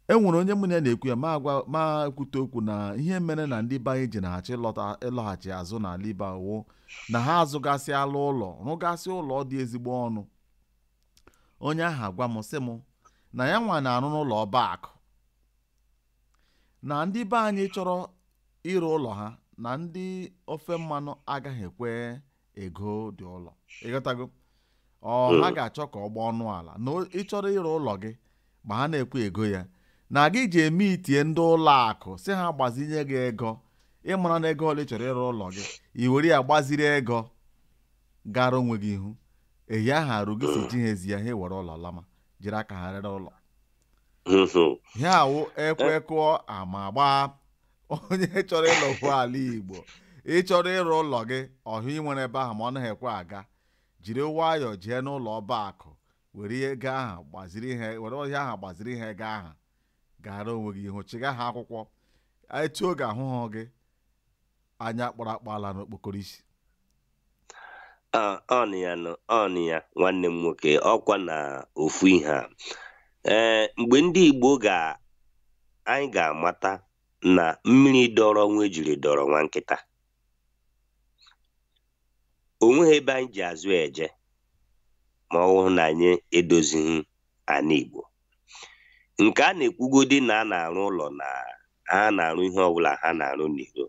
e nwere onye mụ na ya na-ekwu ya ma agwa ma ekwute okwu na ihe mere na ndị be anyị ji anaghị achọ ịlọta ịlọghachi azụ n'ala Igbo wụ na ha azụgasịala ụlọ rụgasị ụlọ dị ezigbo ọnụ onye ahụ agwa m sị m na ya nwa na-arụ n'ụlọ ọba akụ na ndị be anyị chọrọ ire ụlọ ha na ndị ofe mmanụ agaghị ekwe ego dị ụlọ ịghọtago ọ ha ga-achọ ka ọ gbaa ọnụ ala na o- ị chọrọ ire ụlọ gị ma ha na-ekwe ego ya na gị jee meetie ndị ụlọ akụ sị ha gbazinye gị ego ịmara na ego ole ị chọrọ ire ụlọ gị i were ya gbaziri ego gara onwe gị ihu ehi ahụ eruo gị sị i jihazi ya ha ewere ụlọ lama jiri aka ha rere ụlọ ihe a wụ ekwe kụọ ama gbaa onye chọrọ ịlọkwu ala igbo ị chọrọ ire ụlọ gị ọhụ ị nwere ebe ahụ ma ọ naghị ekwe aga jiri nwayọọ jee n'ụlọ ọba akụ were ihe ego ahụ gbaziri ihe were ọhịa ahụ gbaziri ihe ego ahụ gara onwe gị ihu chịga ha akwụkwọ etu oge ahụhụ gị anya kpọrọ akpọ alaa n'okpokoro isi Ah, ọọ ya nụ ọọ ya nwanne m nwoke ọkwa na ofu ihe a ee mgbe ndị Igbo ga anyị ga-amata na mmiri dọrọ nwa ejiri dọrọ nwa nkịta o nweghị ebe anyị ji azụ eje ma ọ bụrụ na anyị edozighị ana Igbo nke a na-ekwugodi na a na-arụ ụlọ na ha na-arụ ihe ọbụla ha na-arụ n'iro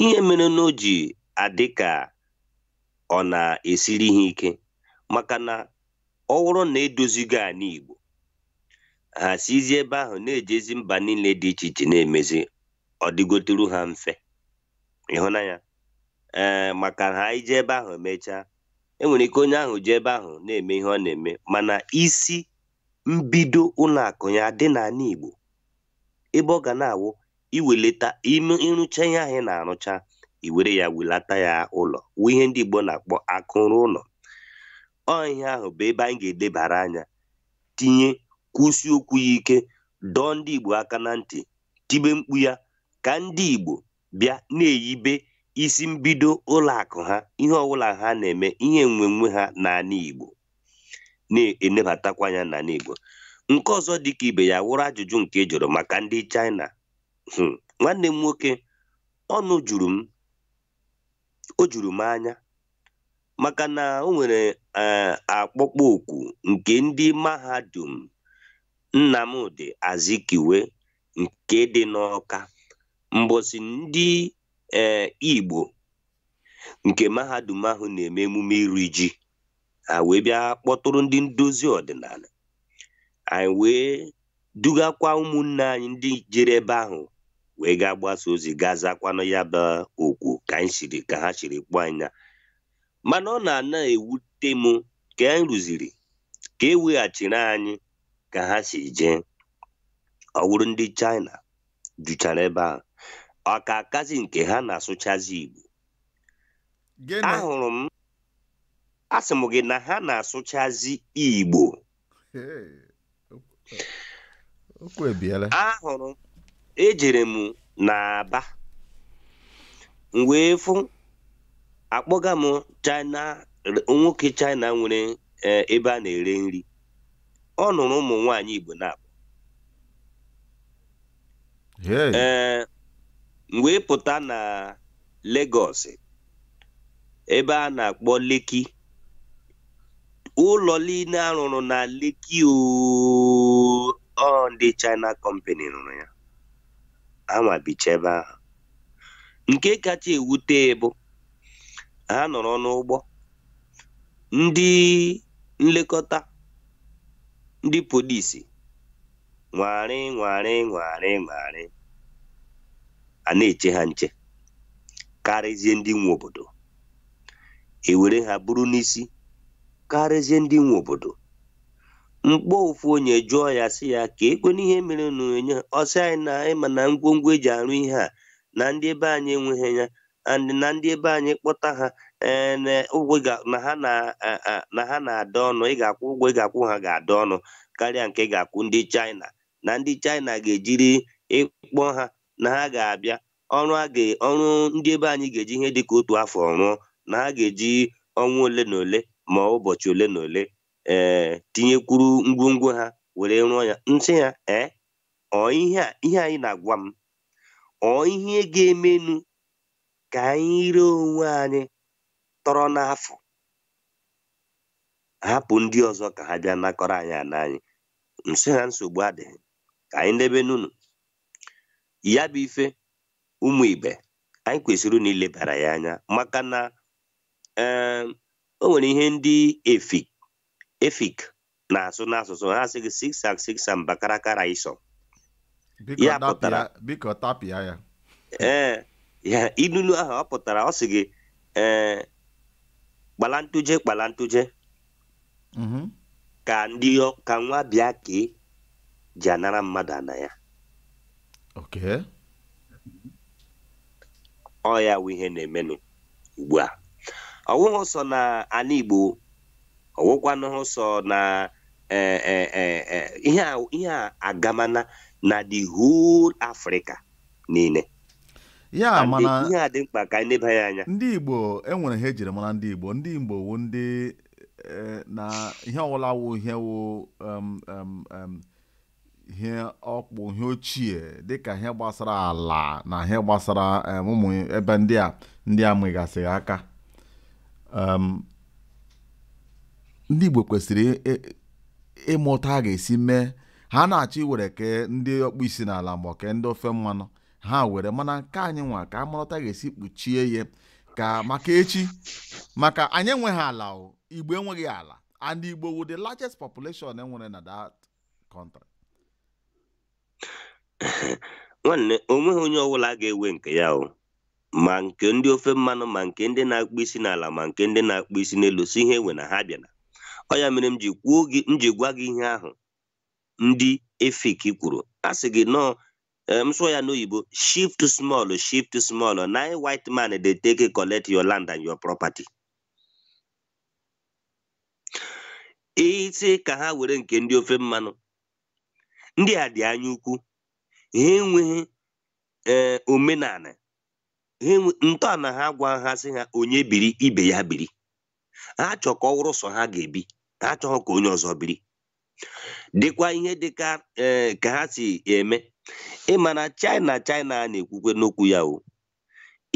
ihe mere na o ji adị ka ọ na-esiri ha ike maka na ọ wụrụ na e dozigo anị Igbo ha sizi ebe ahụ na-ejezi mba niile dị iche iche na-emezi ọ dịgoturu ha mfe ị hụna ya ee maka ha ije ebe ahụ emechaa enwere ike onye ahụ jee ebe ahụ na-eme ihe ọ na-eme mana isi mbido ụlọ akụ ya dị n'anị Igbo ebe ọ ga na-awụ i welata ime ị rụcha ihe ahụ ị na-arụcha i were ya welata ya ụlọ wụ ihe ndị Igbo na-akpọ akụ ruo ụlọ ọ ihe ahụ bụ ebe anyị ga-edebara anya tinye kwusi okwu ya ike dọọ ndị Igbo aka na ntị tibe mkpu ya ka ndị Igbo bịa na-eyibe isi mbido ụlọ akụ ha ihe ọbụla ha na-eme ihe enwenwe ha n'anị Igbo na-enebatakwa anya n'anị Igbo nke ọzọ dị ka ibe ya wụrụ ajụjụ nke ị jụrụ maka ndị China hmm, nwanne m nwoke ọnụ juru m o juru m anya maka na o nwere eh, akpọkpọ oku nke ndị mahadum Nnamdi Azikiwe nke dị n'Ọka mbọsị ndị eh, Igbo nke mahadum ahụ na-eme emume iri ji ha wee bịa kpọtụrụ ndị ndozi ọdịnala anyị wee dugakwa ụmụnne anyị ndị jere ebe ahụ wee gaa gbasa ozi gaa zakwanụ ya bụ oku ka anyị siri ka ha siri kpọọ anyị na mana ọ na-ana ewute m ka anyị ruziri ka e weghachiri anyị ka ha si jee ọ wụrụ ndị China juchara ebe ahụ ọ ka akazi nke ha na-asụchazi Igbo ahụrụ m asị m gị na ha na-asụchazi igbo ahụrụ ejere m n'Aba m wee fụ akpọga m china nwoke china nwere e, ebe a na-ere nri ọ nụrụ ụmụ nwaanyị igbo naabọ ee mgbe ị pụta na Lagos ebe a na-akpọ Lekki ụlọ niile a rụrụ na Lekki ọ ndị China company rụrụ ya ha nwa bicha ebe ahụ nke kacha ewute bụ ha nọrọ n'ụgbọ ndị nlekọta ndị polisi nwagharị nwagharị nwagharị nwagharị a na-eche ha nche karịzie ndị nwe obodo e were ha buru n'isi karịzie ndị nwe obodo m kpọọ ofu onye jụọ ya sị ya keekwanụ ihe mere unu enye ha ọ sị anyị na ị ma na ngwongwo e ji arụ ihe a na ndị ebe anyị enweghị ya and na ndị ebe anyị kpọta ha eh, na ụgwọ ị ga- na ha na eh, eh, na ha na-ada ọnụ ị ga-akwụ ụgwọ ị ga-akwụ ha ga-ada ọnụ karịa nke ị ga-akwụ ndị China na ndị China ga-ejiri ị kpọọ ha na ha ga-abịa ọrụ a ga ọrụ ndị ebe anyị ga-eji ihe dịka otu afọ rụọ na ha ga-eji ọnwa ole na ole ma ụbọchị ole na ole ee tinyekwuru ngwongwo ha were rụọ ya m sị ya ee ọ ihe a ihe a ị na-agwa m ọ ihe ga-emenu ka anyị rie onwe anyị tọrọ n'afọ hapụ ndị ọzọ ka ha bịa nakọrọ anyị ana anyị asị ha nsogbu adịghị ka anyị nebenụ unu ya bụ ife ụmụ ibe anyị kwesịrị na ilebara ya anya maka na o nwere ihe ndị efik efik na-asụ n'asụsụ ha sị gị six and six mbakara kara iso Biko Ya tapịa- pụtara- biko tapịa ya ee ya inunu ahụ ọ pụtara ọ sị gị ee kpala ntụje kpala ntụje Mhm. ka ndị ọ- ka nwa bekee ji anara mmadụ ana ya okay ọ ya wụ ihe na-emenụ ugbu a ọwụghị sọ na ana igbo ọ wụkwanụghị sọ na eh, eh, eh, eh, ihe a ihe a agamana na the whole Africa niile ya And mana ihe a dị mkpa ka anyị neba ya anya ndị igbo enwere ihe ejiri mara ndị igbo ndị igbo wu ndị eh, na ihe ọwụla wụ ihe wụ em, em, em, ihe ọkpụ ihe ochie dịka ihe gbasara ala na ihe gbasara ụmụ ebe ndị a ndị a nwegasịghị aka ndị Igbo kwesịrị ịma otu a ga-esi mee ha na-achọ iwere ke ndị ọkpụ isi n'ala ma ke ndị ofe mmanụ ha were mana nke anyị nwa ka a mara otu a ga-esi kpuchie ya ka maka echi maka anyị enweghị ala Igbo enweghị ala and Igbo wụ the largest population enwere na that country nwanne onweghị onye ọbụla ga-ewe nke ya o ma nke ndị ofe mmanụ ma nke ndị na-akpụ isi n'ala ma nke ndị na-akpụ isi n'elu si ihe ewe na ha bịana ọ ya mere m ji kwuo gị m ji gwa gị ihe ahụ ndị efik kwuru a sị gị nọọ eh, m sụọ ya n'oyibo shift small shift small na im white man dey take collect your land and your property ị sị ka ha were nke ndị ofe mmanụ ndị a dị anya ukwu ha enweghị ee eh, omenana ntọana ha gwa ha sị ha onye biri ibe ya biri ha chọ ka ọ wụrụ sọ ha ga-ebi ha achọghị ka onye ọzọ biri dịkwa ihe dịka eh, ka ha si eme ị ma na China China a na-ekwukwanụ okwu ya o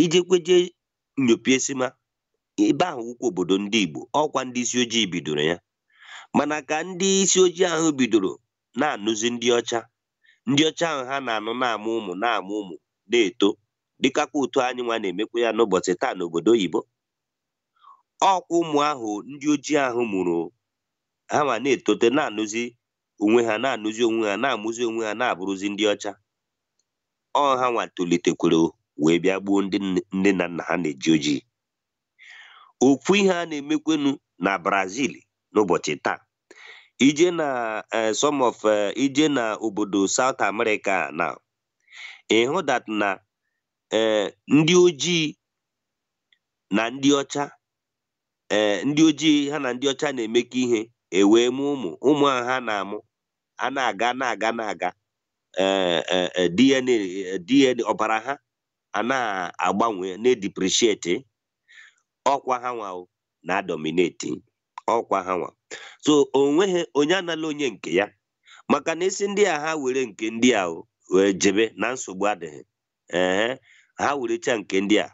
ị jekwe eje nyopie ị sị ma ebe ahụ wụkwa obodo ndị Igbo ọkwa ndị isi ojii bidoro ya mana ka ndị isi ojii ahụ bidoro na-anụzi ndị ọcha ndị ọcha ahụ ha na-anụ na-amụ ụmụ na-amụ ụmụ na-eto dịkakwa otu anyị nwa na-emekwa ya n'ụbọchị taa n'obodo oyibo ọkwa ụmụ ahụ ndị ojii ahụ mụrụ ha nwa na-etote na-anụzi onwe ha na-anụzi onwe ha na-amụzi onwe ha na-abụrụzi ndị ọcha ọ ha nwa tolitekwere wee bịa gbuo ndị nne na nna ha na-eji ojii ọkwa ihe a na-emekwanụ na Brazil n'ụbọchị taa i je na eh, some of eh, i je na obodo South America na ị hụ that na eh, ndị ojii na ndị ọcha ee eh, ndị ojii ha na ndị ọcha na-emekọ ihe e wee mụ ụmụ ụmụ ahụ ha na-amụ a na-aga na-aga na-aga eh, eh, DNA DNA ọbara ha a na-agbanwe na-edepreciate ọkwa ha nwa na-adominate ọkwa ha nwa so o nweghị onye anala onye nke ya maka na a sị ndị a ha were nke ndị a wee jebe na nsogbu adịghị ee ha werecha nke ndị a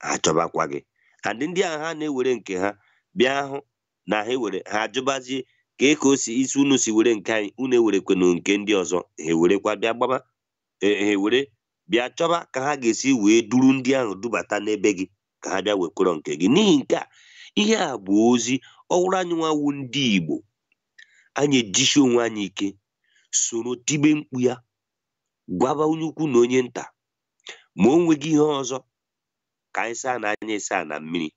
ha chọbakwa gị and ndị ahụ ha na-ewere nke ha bịa hụ na ha ewere ha ajụbazie kee ka o si isi unu si were nke anyị unu ewerekwenụ nke ndị ọzọ ha ewerekwa bịa gbaba e, ha ewere bịa chọba ka ha ga-esi wee duru ndị ahụ dubata n'ebe gị ka ha bịa wekwere nke gị n'ihi nke a ihe a bụ ozi ọ wụrụ anyị nwa wụ ndị Igbo anyị ejisi onwe anyị ike soro tibe mkpu ya gwaba onye ukwu na onye nta ma o nweghị ihe ọzọ ka anyị saanụ anya asaa na mmiri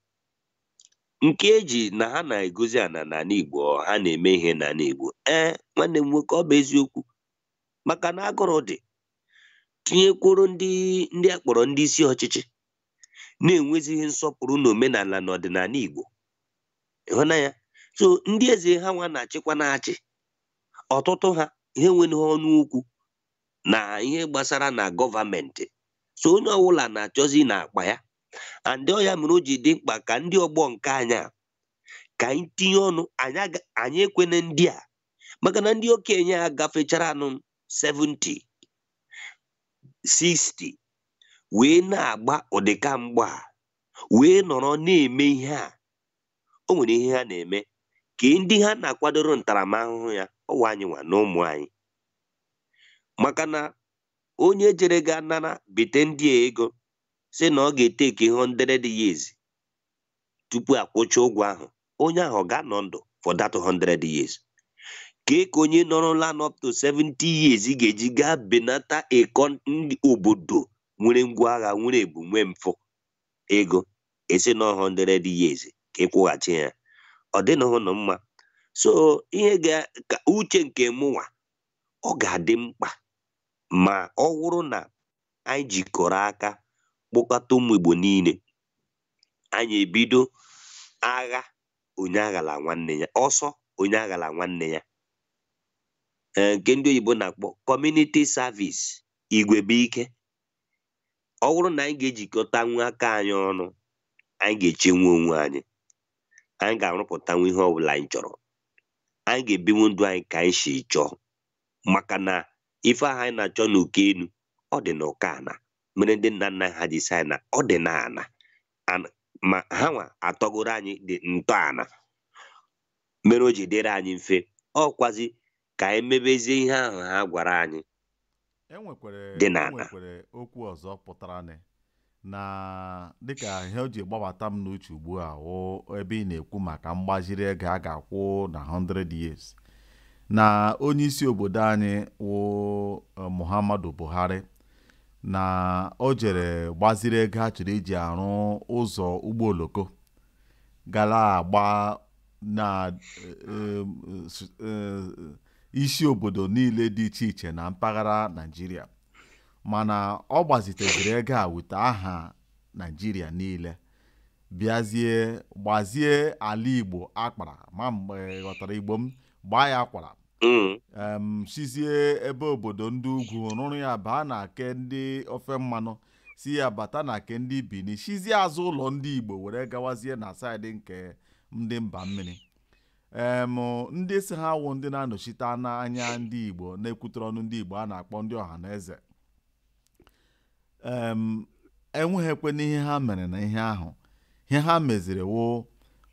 nke eji na ha na-egozi ana n'anị Igbo ha na-eme ihe n'anị Igbo ee nwanne m nwoke ọ bụ eziokwu maka na agụrụ dị tinyekwuru ndị ndị a kpọrọ ndị isi ọchịchị na-enwezighị nsọpụrụ na omenala na ọdịnanị Igbo ị hụna ya so ndị eze ha nwa na-achịkwa na-achị ọtụtụ ha enwerọ ọnụ okwu na ihe gbasara na government so onye ọbụla na-achọzi na akpa ya and ọ ya mere o ji dị mkpa ka ndị ọgbọ nke anyị a ka anyị tinye ọnụ anyị aga- anyị ekwene ndị a maka na ndị okenye a gafecharanụ 70 60 wee na-agba ụdịka mgba a, wee nọrọ na-eme ihe a o nwere ihe ha na-eme kee ndị ha na-akwadoro ntaramahụhụ ya ọ wụ anyị nwa na ụmụ anyị maka na onye jere gaa nara bite ndị a ego sị na ọ ga-etake hundred years tupu akwụcha ụgwọ ahụ onye ahụ ọ ga-anọ ndụ for that hundred years kee ka onye nọrọla up to 70 years ga-eji gaa binata ịkọ ndị obodo nwere ngwa agha nwere ebu nwee mfụ ego a sị na ọ 100 years ka ị kwụghachi ya ọ dịnụhụ na mma so ihe ga ka uche nke mụnwa ọ ga-adị mkpa ma ọ wụrụ na anyị jikọrọ aka kpọkọta ụmụ Igbo niile anyị ebido agha onye aghala nwanne ya ọsọ onye aghala nwanne ya nke ndị oyibo na-akpọ community service igwe bụ ike ọ bụrụ na anyị ga-ejikọtanwu aka anyị ọnụ anyị ga-echenwu onwe anyị anyị ga-arụpụtanwu ihe ọbụla anyị chọrọ anyị ga-ebinwu ndụ anyị ka anyị si chọọ maka na ife ahụ anyị na-achọ n'uko enu ọ dị n'uko ana mere ndị nna nna ha ji sị anyị na ọ dị n'ana ma ha nwa atọgoro anyị ntọana mere o ji dịrị anyị mfe ọ kwazị ka anyị mebezie ihe ahụ ha gwara anyị enwekwere dị n'ala. enwekwere okwu ọzọ pụtaranụ na dịka ihe o ji gbabata m n'uche ugbu a wụ ebe ị na-ekwu maka mgbaziri ego a ga-akwụ na 100 years na onye isi obodo anyị wụ eh, Muhammadu Buhari na o jere gbaziri ego a chọrọ iji arụ ụzọ ụgbọ oloko ga na-agba na eh, eh, isi obodo niile dị iche iche na mpaghara naijiria mana ọ gbaziteziri ego a with aha naijiria niile bịazie gbazie ala igbo akpara ma ị ghọtara igbo m gbaa ya akwara mm. sizie ebe obodo ndị ugwu rụrụ ya baa na ke ndị ofe mmanụ si ya bata na ke ndị bini sizie azụ ụlọ ndị igbo were gawazie na side nke ndị mba mmiri em ndị sị ha wụ ndị na-anọchite anya ndị igbo na-ekwutere ọnụ ndị igbo a na-akpọ ndị ọhanaeze em, enweghịkwenụ ihe ha mere na ihe ahụ ihe ha meziri wụ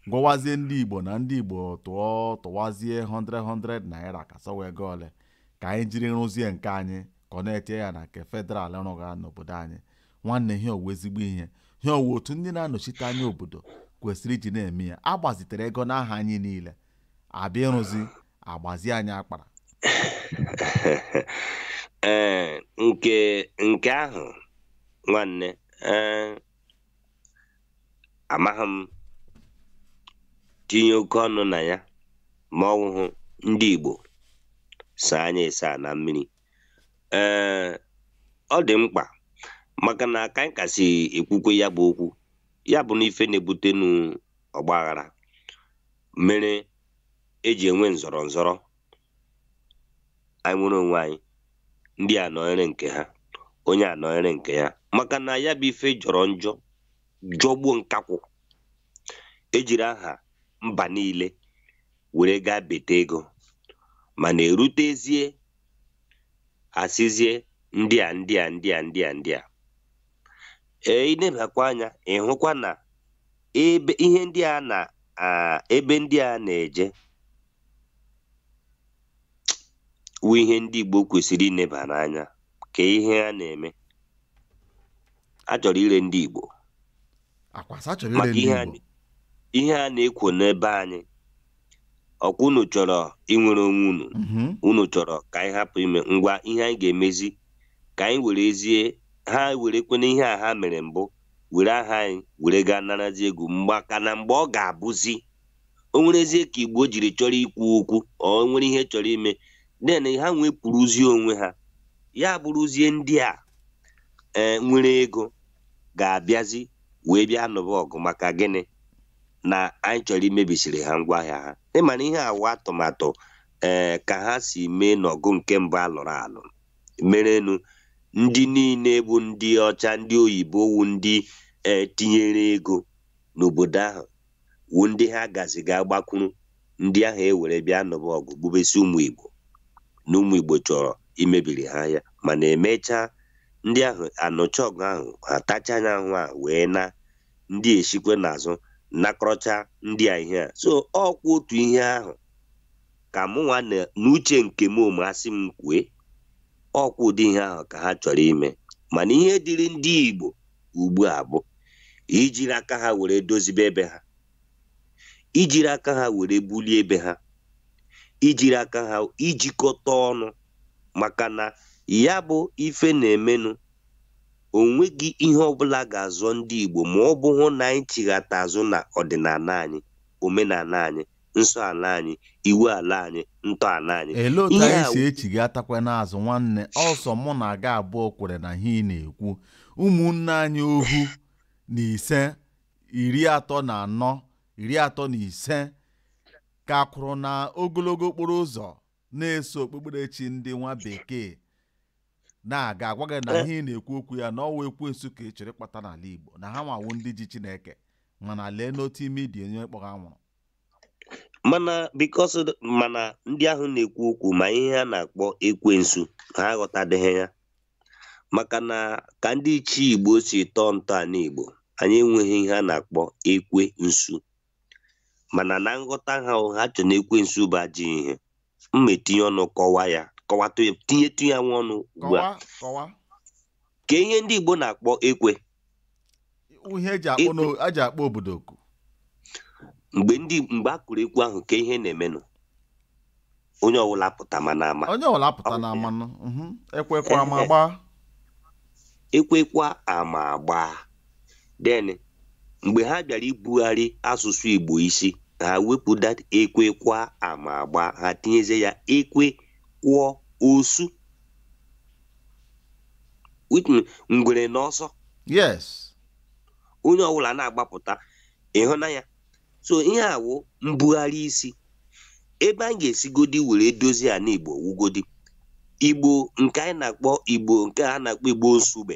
gwawazie ndị igbo na ndị igbo tụọ tụwazie 100 naira ka a sị ọ wụ ego ole ka anyị jiri rụzie nke anyị connectia ya na nke federal rụga n'obodo anyị nwanne ihe a ọ wụ ezigbo ihe ihe a ọ wụ otu ndị na-anọchite anya obodo kwesịrị iji na-eme ya a gbazitere ego n'aha anyị niile a bịa ịrụzi a gbazie anyị akpara ee nke nke ahụ nwanne ee amaghị m tinye oke ọnụ na ya ma ọ wụhụ ndị Igbo saa anya ịsa na mmiri ee ọ dị mkpa maka na ka anyị ka si ekwukwe ya bụ okwu ya bụ na ife na-ebutenu ọgbaghara mere eji enwe nzọrọ nzọrọ anyị nwere onwe anyị ndị a nọnyere nke ha onye a nọnyere nke ya maka na ya bụ ife jọrọ njọ jọgbuo nkakwụ ejiri aha mba niile were gaa bite ego mana erutezie asịzie ndị a ndị a ndị a ndị a ndị a ee ịnebakwa anya ịhụkwa na ebe ihe ndị a na ebe ndị a na-eje wụ ihe ndị Igbo kwesịrị ineba n'anya ka ihe a na-eme a chọrọ ire ndị Igbo maka ihe a na-ekwu n'ebe anyị ọkwa unu chọrọ inwere onwe unu mhm. unu chọrọ ka anyị hapụ ime ngwa ihe anyị ga-emezi ka anyị were rezie ha werekwena ihe a ha mere mbụ were aha anyị were gaa narazi ego maka na mgbe ọ ga-abụzi o nwerezie ka igbo jiri chọrọ ikwu okwu o nwere ihe chọrọ ime then ha nwepụrụzie onwe ha ya abụrụzie ndị a e, nwere ego ga-abịazi wee bịa nụba ọgụ maka gịnị na anyị chọrọ imebisiri ha ngwaahịa ha ị mana ihe a wụ atụmatụ ee eh, ka ha si mee n'ọgụ nke mbụ a lụrụ alụ merenụ ndị niile bụ ndị ọcha ndị oyibo wụ ndị e, tinyere ego n'obodo ahụ wụ ndị ha gazi gaa gbakwuru ndị ahụ e were bịa nụba ọgụ gbubesi ụmụ igbo na ụmụ igbo chọrọ imebiri ha ya mana e mechaa ndị ahụ anụcha ọgụ ahụ ha tachaa anyị ahụ a wee naa ndị esikwa n'azụ nakọrọcha ndị a ihe a so ọkwa otu ihe ahụ ka mụnwa n'uche nke m ọ wụ a sị m kwue ọkwa ụdị ihe ahụ ka ha chọrọ ime mana ihe dịrị ndị Igbo ugbu a bụ ijiri aka ha were dozibe ebe ha ijiri aka ha were bulie ebe ha ijiri aka ha ijikọta ọnụ maka na ya bụ ife na-emenụ o nweghị ihe ọbụla ga-azọ ndị Igbo ma ọ bụhụ na anyị chighata azụ na ọdịnala anyị omenala anyị nsọ ala anyị iwu ala anyị ntọ ala anyị ele otu anyị ga-esi echighatakwa n'azụ nwanne ọ sọ mụ na gị abụọ kwere na ihe ị na-ekwu ụmụnne anyị ohu na ise iri atọ na anọ iri atọ na ise ka kwụrụ na ogologo okporo ụzọ na-eso okpukperechi ndị nwa bekee na-aga agwa gị na ihe ị na-ekwu okwu ya na ọ wụ ekwensu ka ị chọrọ ịkpata n'ala Igbo na hanwa wụ ndị ji Chineke mana lee n'otu ime idi onye kpọrọ anwụrụ mana because mana ndị ahụ na-ekwu okwu ma ihe ha na-akpọ ekwensu ha aghọtadịghị ya maka na ka ndị ichie igbo si tọọ ntọala igbo anyị enweghị ihe a na-akpọ ekwensu mana na nghọta ha ha chọ na ekwensu bụ ajọ ihe m etinye ọnụ kọwa ya kọwatụ ya tinyetụ ya nwa ọnụ ugbu a kọwa kọwa ka ihe ndị Igbo na-akpọ ekwe ihe eji akpọ n'o- eji akpọ obodo oku mgbe ndị mgbe a kụrụ ekwe ahụ ka ihe na-emenụ onye ọbụla apụtama na ama onye ọwụla apụta na amanụ mhm, ekwe kụọ ama agbaa ekwe kụọ ama agbaa then mgbe ha bịara ibugharị asụsụ Igbo isi ha wepụ that ekwe kụọ ama agbaa ha tinyezie ya ekwe kụọ osu ngwere na ọsọ yes onye ọbụla na-agbapụta ị hụna ya so ihe a wụ mbugharị isi ebe anyị ga-esigodi were dozie ala igbo wugodi igbo nke anyị na-akpọ igbo nke a na-akpọ igbo izugbe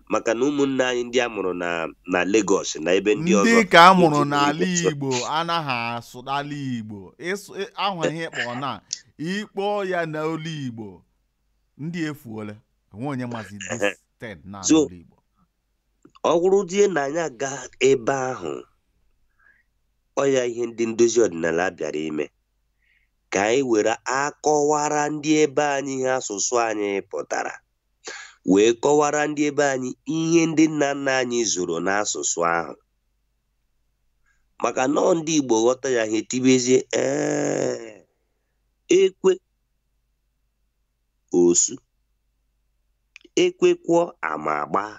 maka na ụmụnne anyị ndị a mụrụ na na Lagos na ebe ndị ọzọ ndị nke a mụrụ na-eji n'ala Igbo sụọ. Igbo anaghị asụ n'ala Igbo ịsụ ị- ahụ ihe kpọọ na ịkpọ ya n'olu Igbo ndị efuola onwe onye mazi this thing na So, n'olu Igbo ọ wụrụzie na anyị aga ebe ahụ ọ ya ihe ndị ndozi ọdịnala bịara ime ka anyị were akọwara ndị ebe anyị ihe asụsụ anyị pụtara wee kọwara ndị ebe anyị ihe ndị nna nna anyị zoro n'asụsụ ahụ maka nọọ ndị Igbo ghọta ya ha etibezie ee ekwe osu ekwe kụọ ama agbaa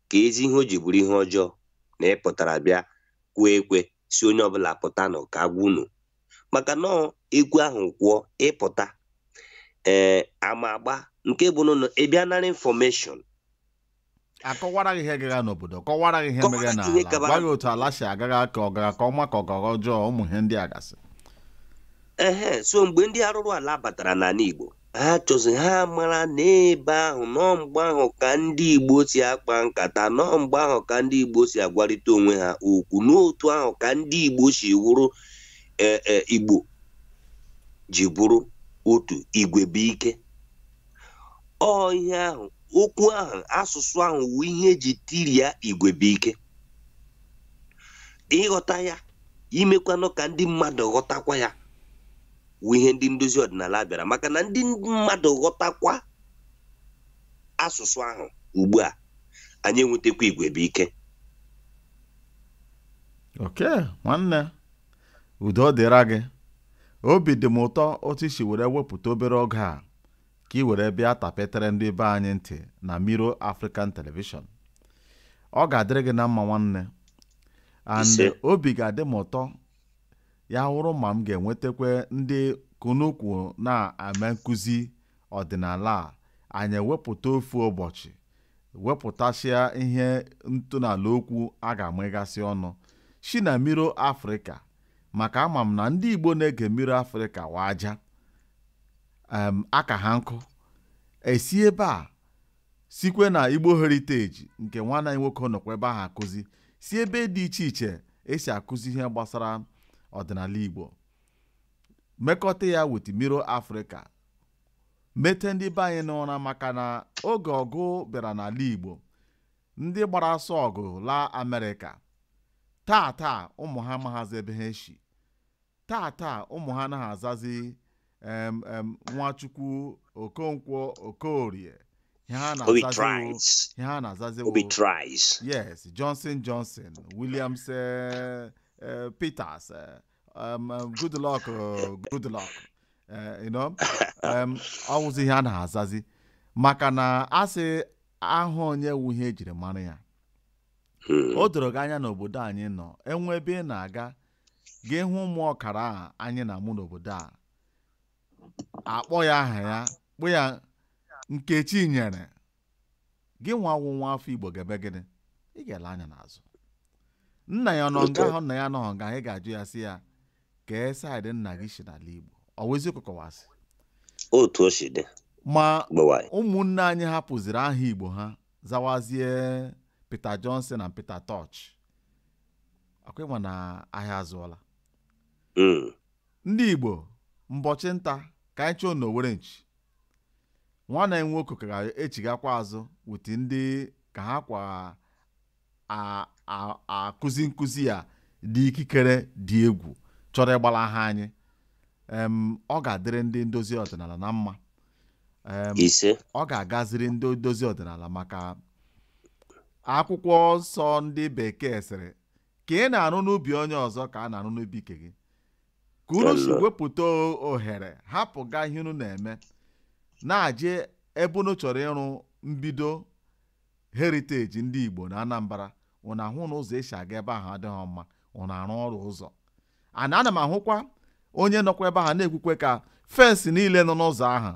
keezi ihe o ji bụrụ ihe ọjọọ na ịpụtara bịa kụọ ekwe sị onye ọbụla pụtanụ ka a gwa unu maka na ekwe ahụ kụọ ị pụta ee eh, ama agbaa nke bụ na ị bịa nara information a kọwara gị ihe gara n'obodo kọwara gị ihe mere na ala gwa gị otu ala si gaa ka ọ gara nke ọma ka ọ gara ọjọọ ụmụ ihe ndị a gasị ehe so mgbe ndị arụrụ ala batara n'ala Igbo ha chọzi ha mara na ebe ahụ nọọ mgbe ahụ ka ndị Igbo si akpa nkata nọọ mgbe ahụ ka ndị Igbo si agwarịta onwe ha okwu n'otu ahụ ka ndị Igbo si wụrụ e, e, Igbo ji bụrụ otu igwe bụ ike ọ ihe ahụ okwu ahụ asụsụ ahụ wu ihe eji tiria igwe bụ ike ịghọta ya imekwanụ ka ndị mmadụ ghọtakwa ya wụ ihe ndị ndozi ọdịnala bịara maka na ndị mmadụ ghọtakwa asụsụ ahụ ugbu a anyị enwetakwa igwe bụ ike oke nwanne udo dịra gị obi dị m ụtọ otu i si were wepụta obere oge a ka ị were bịa tapetere ndị be anyị ntị na Mirror African Television ọ ga-adịrị gị na mma nwanne and obi ga-adị m ụtọ ya wụrụ ma m ga-enwetakwa ndị ka unu kwu na-eme nkụzi ọdịnala a anyị ewepụta ofu ụbọchị wepụtasịa ihe ntọala okwu a ga-emegasị ọnụ si na Mirror Africa maka ama m na ndị igbo na-ege Mirror Africa wa aja em, aka ha nkụ esi ebe a sikwe na Igbo Heritage nke nwanne anyị nwoke nọkwa ebe ahụ akụzi si ebe dị iche iche e si akụzi ihe gbasara ọdịnala Igbo mekọta ya with Mirror Africa mete ndị be anyị n'ụra maka na oge ọgụ bịara n'ala Igbo ndị gbara ọsọ ọgụ laa Amerịka taa taa ụmụ ha amaghazị ebe ha eshi taa taa ụmụ ha anaghị azazi em em nwachukwu okonkwo okorie ihe ha Obi na-azazi wụ- tries. ihe ha na-azazi Obi wụ- tries. yes johnson johnson williams eh, eh, peters eh, um, um, good luck oh, good luck eh, you know um, ọ wụzi ihe a na-azazi maka na a sị aha onye wu ihe ejiri mara ya Hmm. o doro gị anya n'obodo anyị nọ e nwee ebe ị na-aga gị hụ ụmụ ọkara a anyị na-amụ n'obodo a a kpọọ ya aha ya kpọọ ya Nkechinyere gịnwa wụ nwa afọ igbo ga-eme gịnị ị ga-ele anya n'azụ nna ya nọ nga ahụ nna ya nọghọ nga ahụ ị ga-ajụ ya sị ya kee side nna gị si n'ala igbo ọ wụ eziokwu ka ọ wụ asị otu o si dị ma gbewanyị ụmụnne anyị hapụziri aha igbo ha zawazie Peter Johnson na Peter Tosh akwa ị ma na ahịa azụọla mm. ndị igbo mbọchị nta ka anyị chụọ n'owere nchi nwanne anyị nwoke ka a ga-echigakwa azụ wute ndị ka ha kwa akụzi nkụzi ya dị ikikere dị egwu chọrọ ịgbalaha anyị ọ ga-adịrị ndị ndozi ọdịnala na mma Em, isee ọ ga-agaziri ndị ndozi ọdịnala maka akwụkwọ nsọ ndị bekee sịrị ka ị na-arụ n'ubi onye ọzọ ka a na-arụ n'ubi nke gị ka unu si Ọlọ. wepụta o- ohere hapụga ihe unu na-eme na-aje ebe unu chọrọ ịrụ mbido heritage ndị Igbo na Anambra unu ahụ na ụzọ e si aga ebe ahụ adịghị mma unu arụ ọrụ ụzọ and ana m ahụkwa onye nọkwa ebe ahụ na-ekwukwe ka fence niile nọ n'ụzọ ahụ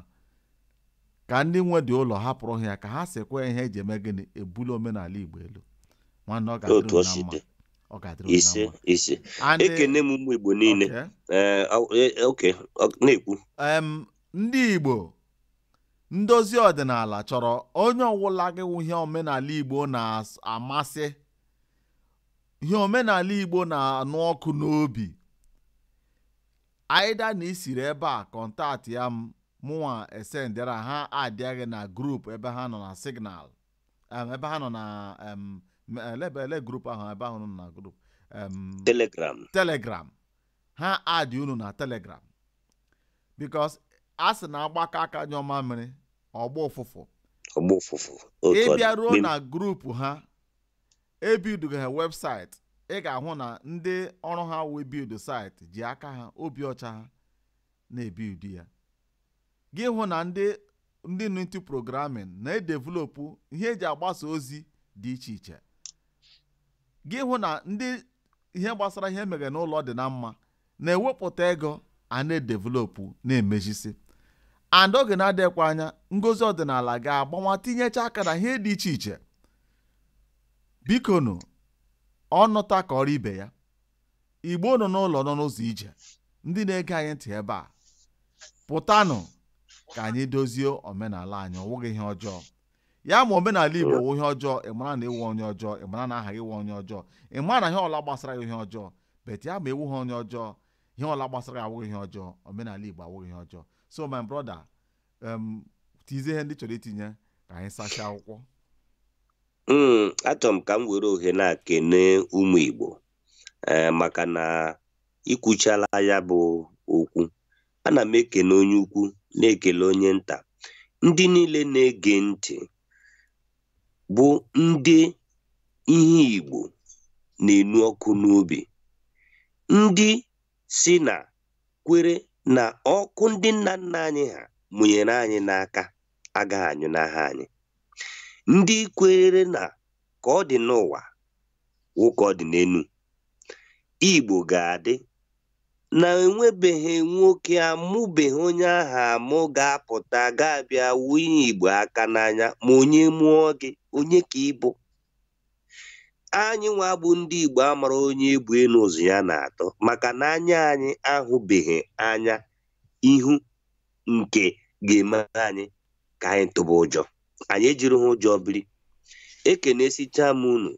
ka ndị nwe dị ụlọ hapụrụ ha ya ka ha sekwa ihe e ji eme gịnị ebuli omenala Igbo elu nwanne ọ ga-adịrị otu o unu na si mma dị ọ ga-adịrị unu na ise mma ise And, eh, ekene m ụmụ igbo niile okay. Ee, aw- e- e- oke ọ- na-ekwu em, ndị Igbo ndozi ọdịnala chọrọ onye ọ wụla gị wụ ihe omenala Igbo na-amasị ihe omenala Igbo na-anụ ọkụ n'obi either na i siri ebe a contactịa m mụnwa esendịra ha addịa gị na group ebe ha nọ na signal em, ebe ha nọ na em, m- ele ebe- ele group ahụ ebe ahụ nọ na group em, telegram telegram ha add unu na telegram because a sị na a gbakọọ aka nyụọ mamịrị ọ gbaa ụfụfụ ọ gbaa ụfụfụ ị bịaruo na group ha ebuilduga ha website ị ga-ahụ na ndị ọrụ ha wụ build site ji aka ha obi ọcha ha na-ebuild ya gị hụ na ndị ndị nọ into programming na-edevelopụ ihe e ji agbasa ozi dị iche iche gị hụ na ndị ihe gbasara ihe mere n'ụlọ dị na mma na-ewepụta ego a na-edevelopụ na-emezisi and oge na-adịkwa anya ndozi ọdịnala ga-agbawa tinyecha aka na ihe dị iche iche bikonu ọ nụta kọọrọ ibe ya igbo nọ n'ụlọ nọ n'ụzọ ije ndị na-ege anyị ntị ebe a pụtanụ ka anyị dozie omenala anyị ọ wụghị ihe ọjọọ ya ma omenala igbo wụ ihe ọjọọ ị mara na ị wụ onye ọjọọ ị mara na aha gị wụ onye ọjọọ ị mara na ihe ọla gbasara gị ihe ọjọọ but ya ma ị wụghị onye ọjọọ ihe ọla gbasara gị awụghị ihe ọjọọ omenala igbo awụghị ihe ọjọọ so my brother em, tizie ihe ndị chọrọ itinye ka anyị sachaa akwụkwọ Mm, achọrọ m ka m were ohere a kene ụmụ Igbo ee maka na i kwuchala ya bụ okwu ana m ekene onye ukwu na-ekele onye nta ndị niile na-ege ntị bụ ndị ihe Igbo na-enu ọkụ n'obi ndị sị na kwere na ọkụ ndị nna nna anyị ha mụnyere anyị n'aka agaghị anyụ n'aka anyị ndị kweere na ka ọ dị n'ụwa wụ ka ọ dị n'elu igbo ga-adị na e nwebeghị nwoke a mụbeghị onye ahụ a mụ ga-apụta ga-abịa wunye igbo aka n'anya ma onye mụọ gị onye ka ị bụ anyị nwa bụ ndị Igbo amara onye ebu elu ụzọ ya na-atọ maka na anya anyị ahụbeghị anya ihe nke ga-eme anyị ka anyị tụba ụjọ anyị ejiri ha ụjọ biri ekenesicha m unu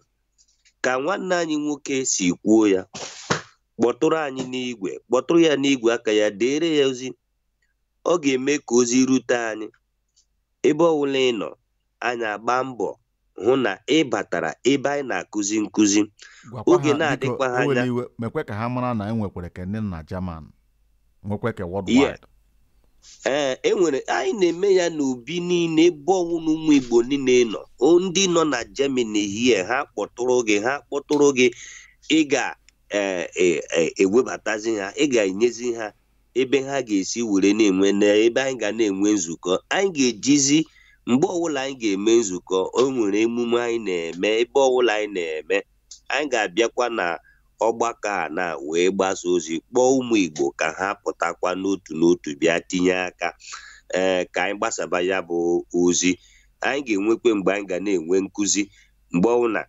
ka nwanne anyị nwoke si kwuo ya kpọtụrụ anyị n'igwe kpọtụrụ ya n'igwe aka ya deere ya ozi ọ ga-eme ka ozi rute anyị ebe ọwụla ị nọ anyị agbaa mbọ hụ na ị batara ebe anyị na-akụzi nkụzi oge na-adịkwa ha anya mekwe ka ha mara na e nwekwara nke ndị na German nwekwe nke worldwide ee e nwere anyị na-eme ya n'ebe niile ebe ọwụna ụmụ Igbo niile nọ ndị nọ na Germany here ha kpọtụrụ gị ha kpọtụrụ gị ị ga-ewebatazi e, e, e ha ị ga-enyezi ha ebe ha ga-esi were na-enwe na ebe anyị ga na-enwe nzukọ anyị ga-ejizi mgbe ọbụla anyị ga-eme nzukọ o nwere emume anyị na-eme ebe ọbụla anyị na-eme anyị ga-abịakwa na ọgbakọ a na wee gbasa ozi kpọọ ụmụ Igbo ka ha pụtakwa n'otu n'otu bịa tinye aka ee ka anyị gbasaba ya bụ ozi anyị ga-enwekwa mgbe anyị ga na-enwe nkụzi mgbe ọbụla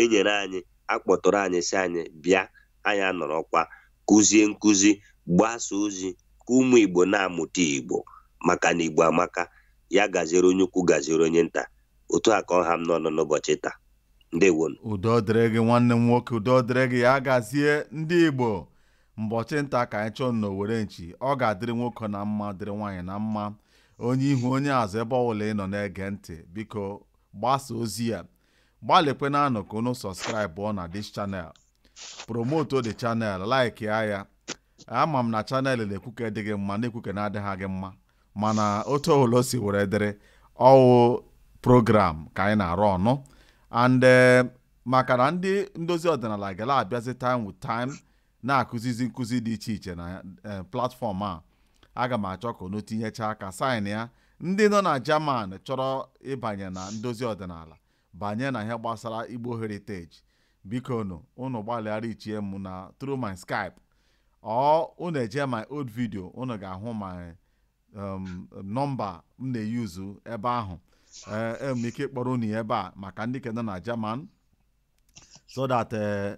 enyere anyị akpọtụrụ anyị sị anyị bịa anyị anọrọkwa kụzie nkụzi gbasa ozi ka ụmụ Igbo na-amụta Igbo maka na Igbo amaka ya gaziere onye ukwu gaziere onye nta otu a ka ọ ha m n'ọnụ n'ụbọchị taa ndewonụ udo dịrị gị nwanne m nwoke udo dịrị gị ya gazie ndị Igbo mbọchị nta ka anyị chụọ na owere nchi ọ ga-adịrị nwoke na mma dịrị nwaanyị na mma onye ihu onye azụ ebe ọbụla ị nọ na-ege ntị biko gbasa ozi a gbalịkwenụ ka unu subscribe na this channel promotuo the channel like ya ama m na channel na-ekwu nke dị gị mma na-ekwu nke na-adịghị gị mma mana otu ọbụla o si were dịrị ọ wụ program ka anyị na-arụ ọnụ and eh, maka na ndị ndozi ọdịnala ga na-abịazi time to time na-akụzizi nkụzi dị iche iche na eh, platform a aga m achọ ka unu tinyechaa aka sign ya ndị nọ na German chọrọ ịbanye na ndozi ọdịnala banye na ihe gbasara Igbo Heritage bikonụ unu gbalịa reachie m na through my Skype or unu eje my old video unu ga-ahụ my um, number m na-eyuzu ebe ahụ enwere m ike kpọrọ unu ya ebe a maka ndị nke nọ na German so that eh,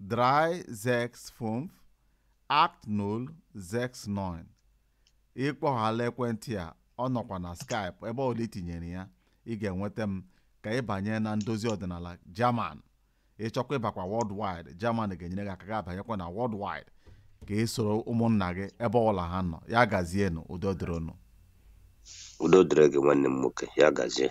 3, 6, 5, 8, 0, 6, 9. ị kpọọ akala ekwentị a ọ nọkwa na Skype ebe ọbụla i tinyere ya ị ga-enweta m ka ị banye na ndozi ọdịnala German ị chọkwa ịbakwa worldwide German ga-enyere gị aka gị abanyekwa na worldwide ka ị soro ụmụnna gị ebe ọbụla ha nọ ya gazienụ udo dịrịnụ udo dịrị gị nwanne m nwoke ya gazie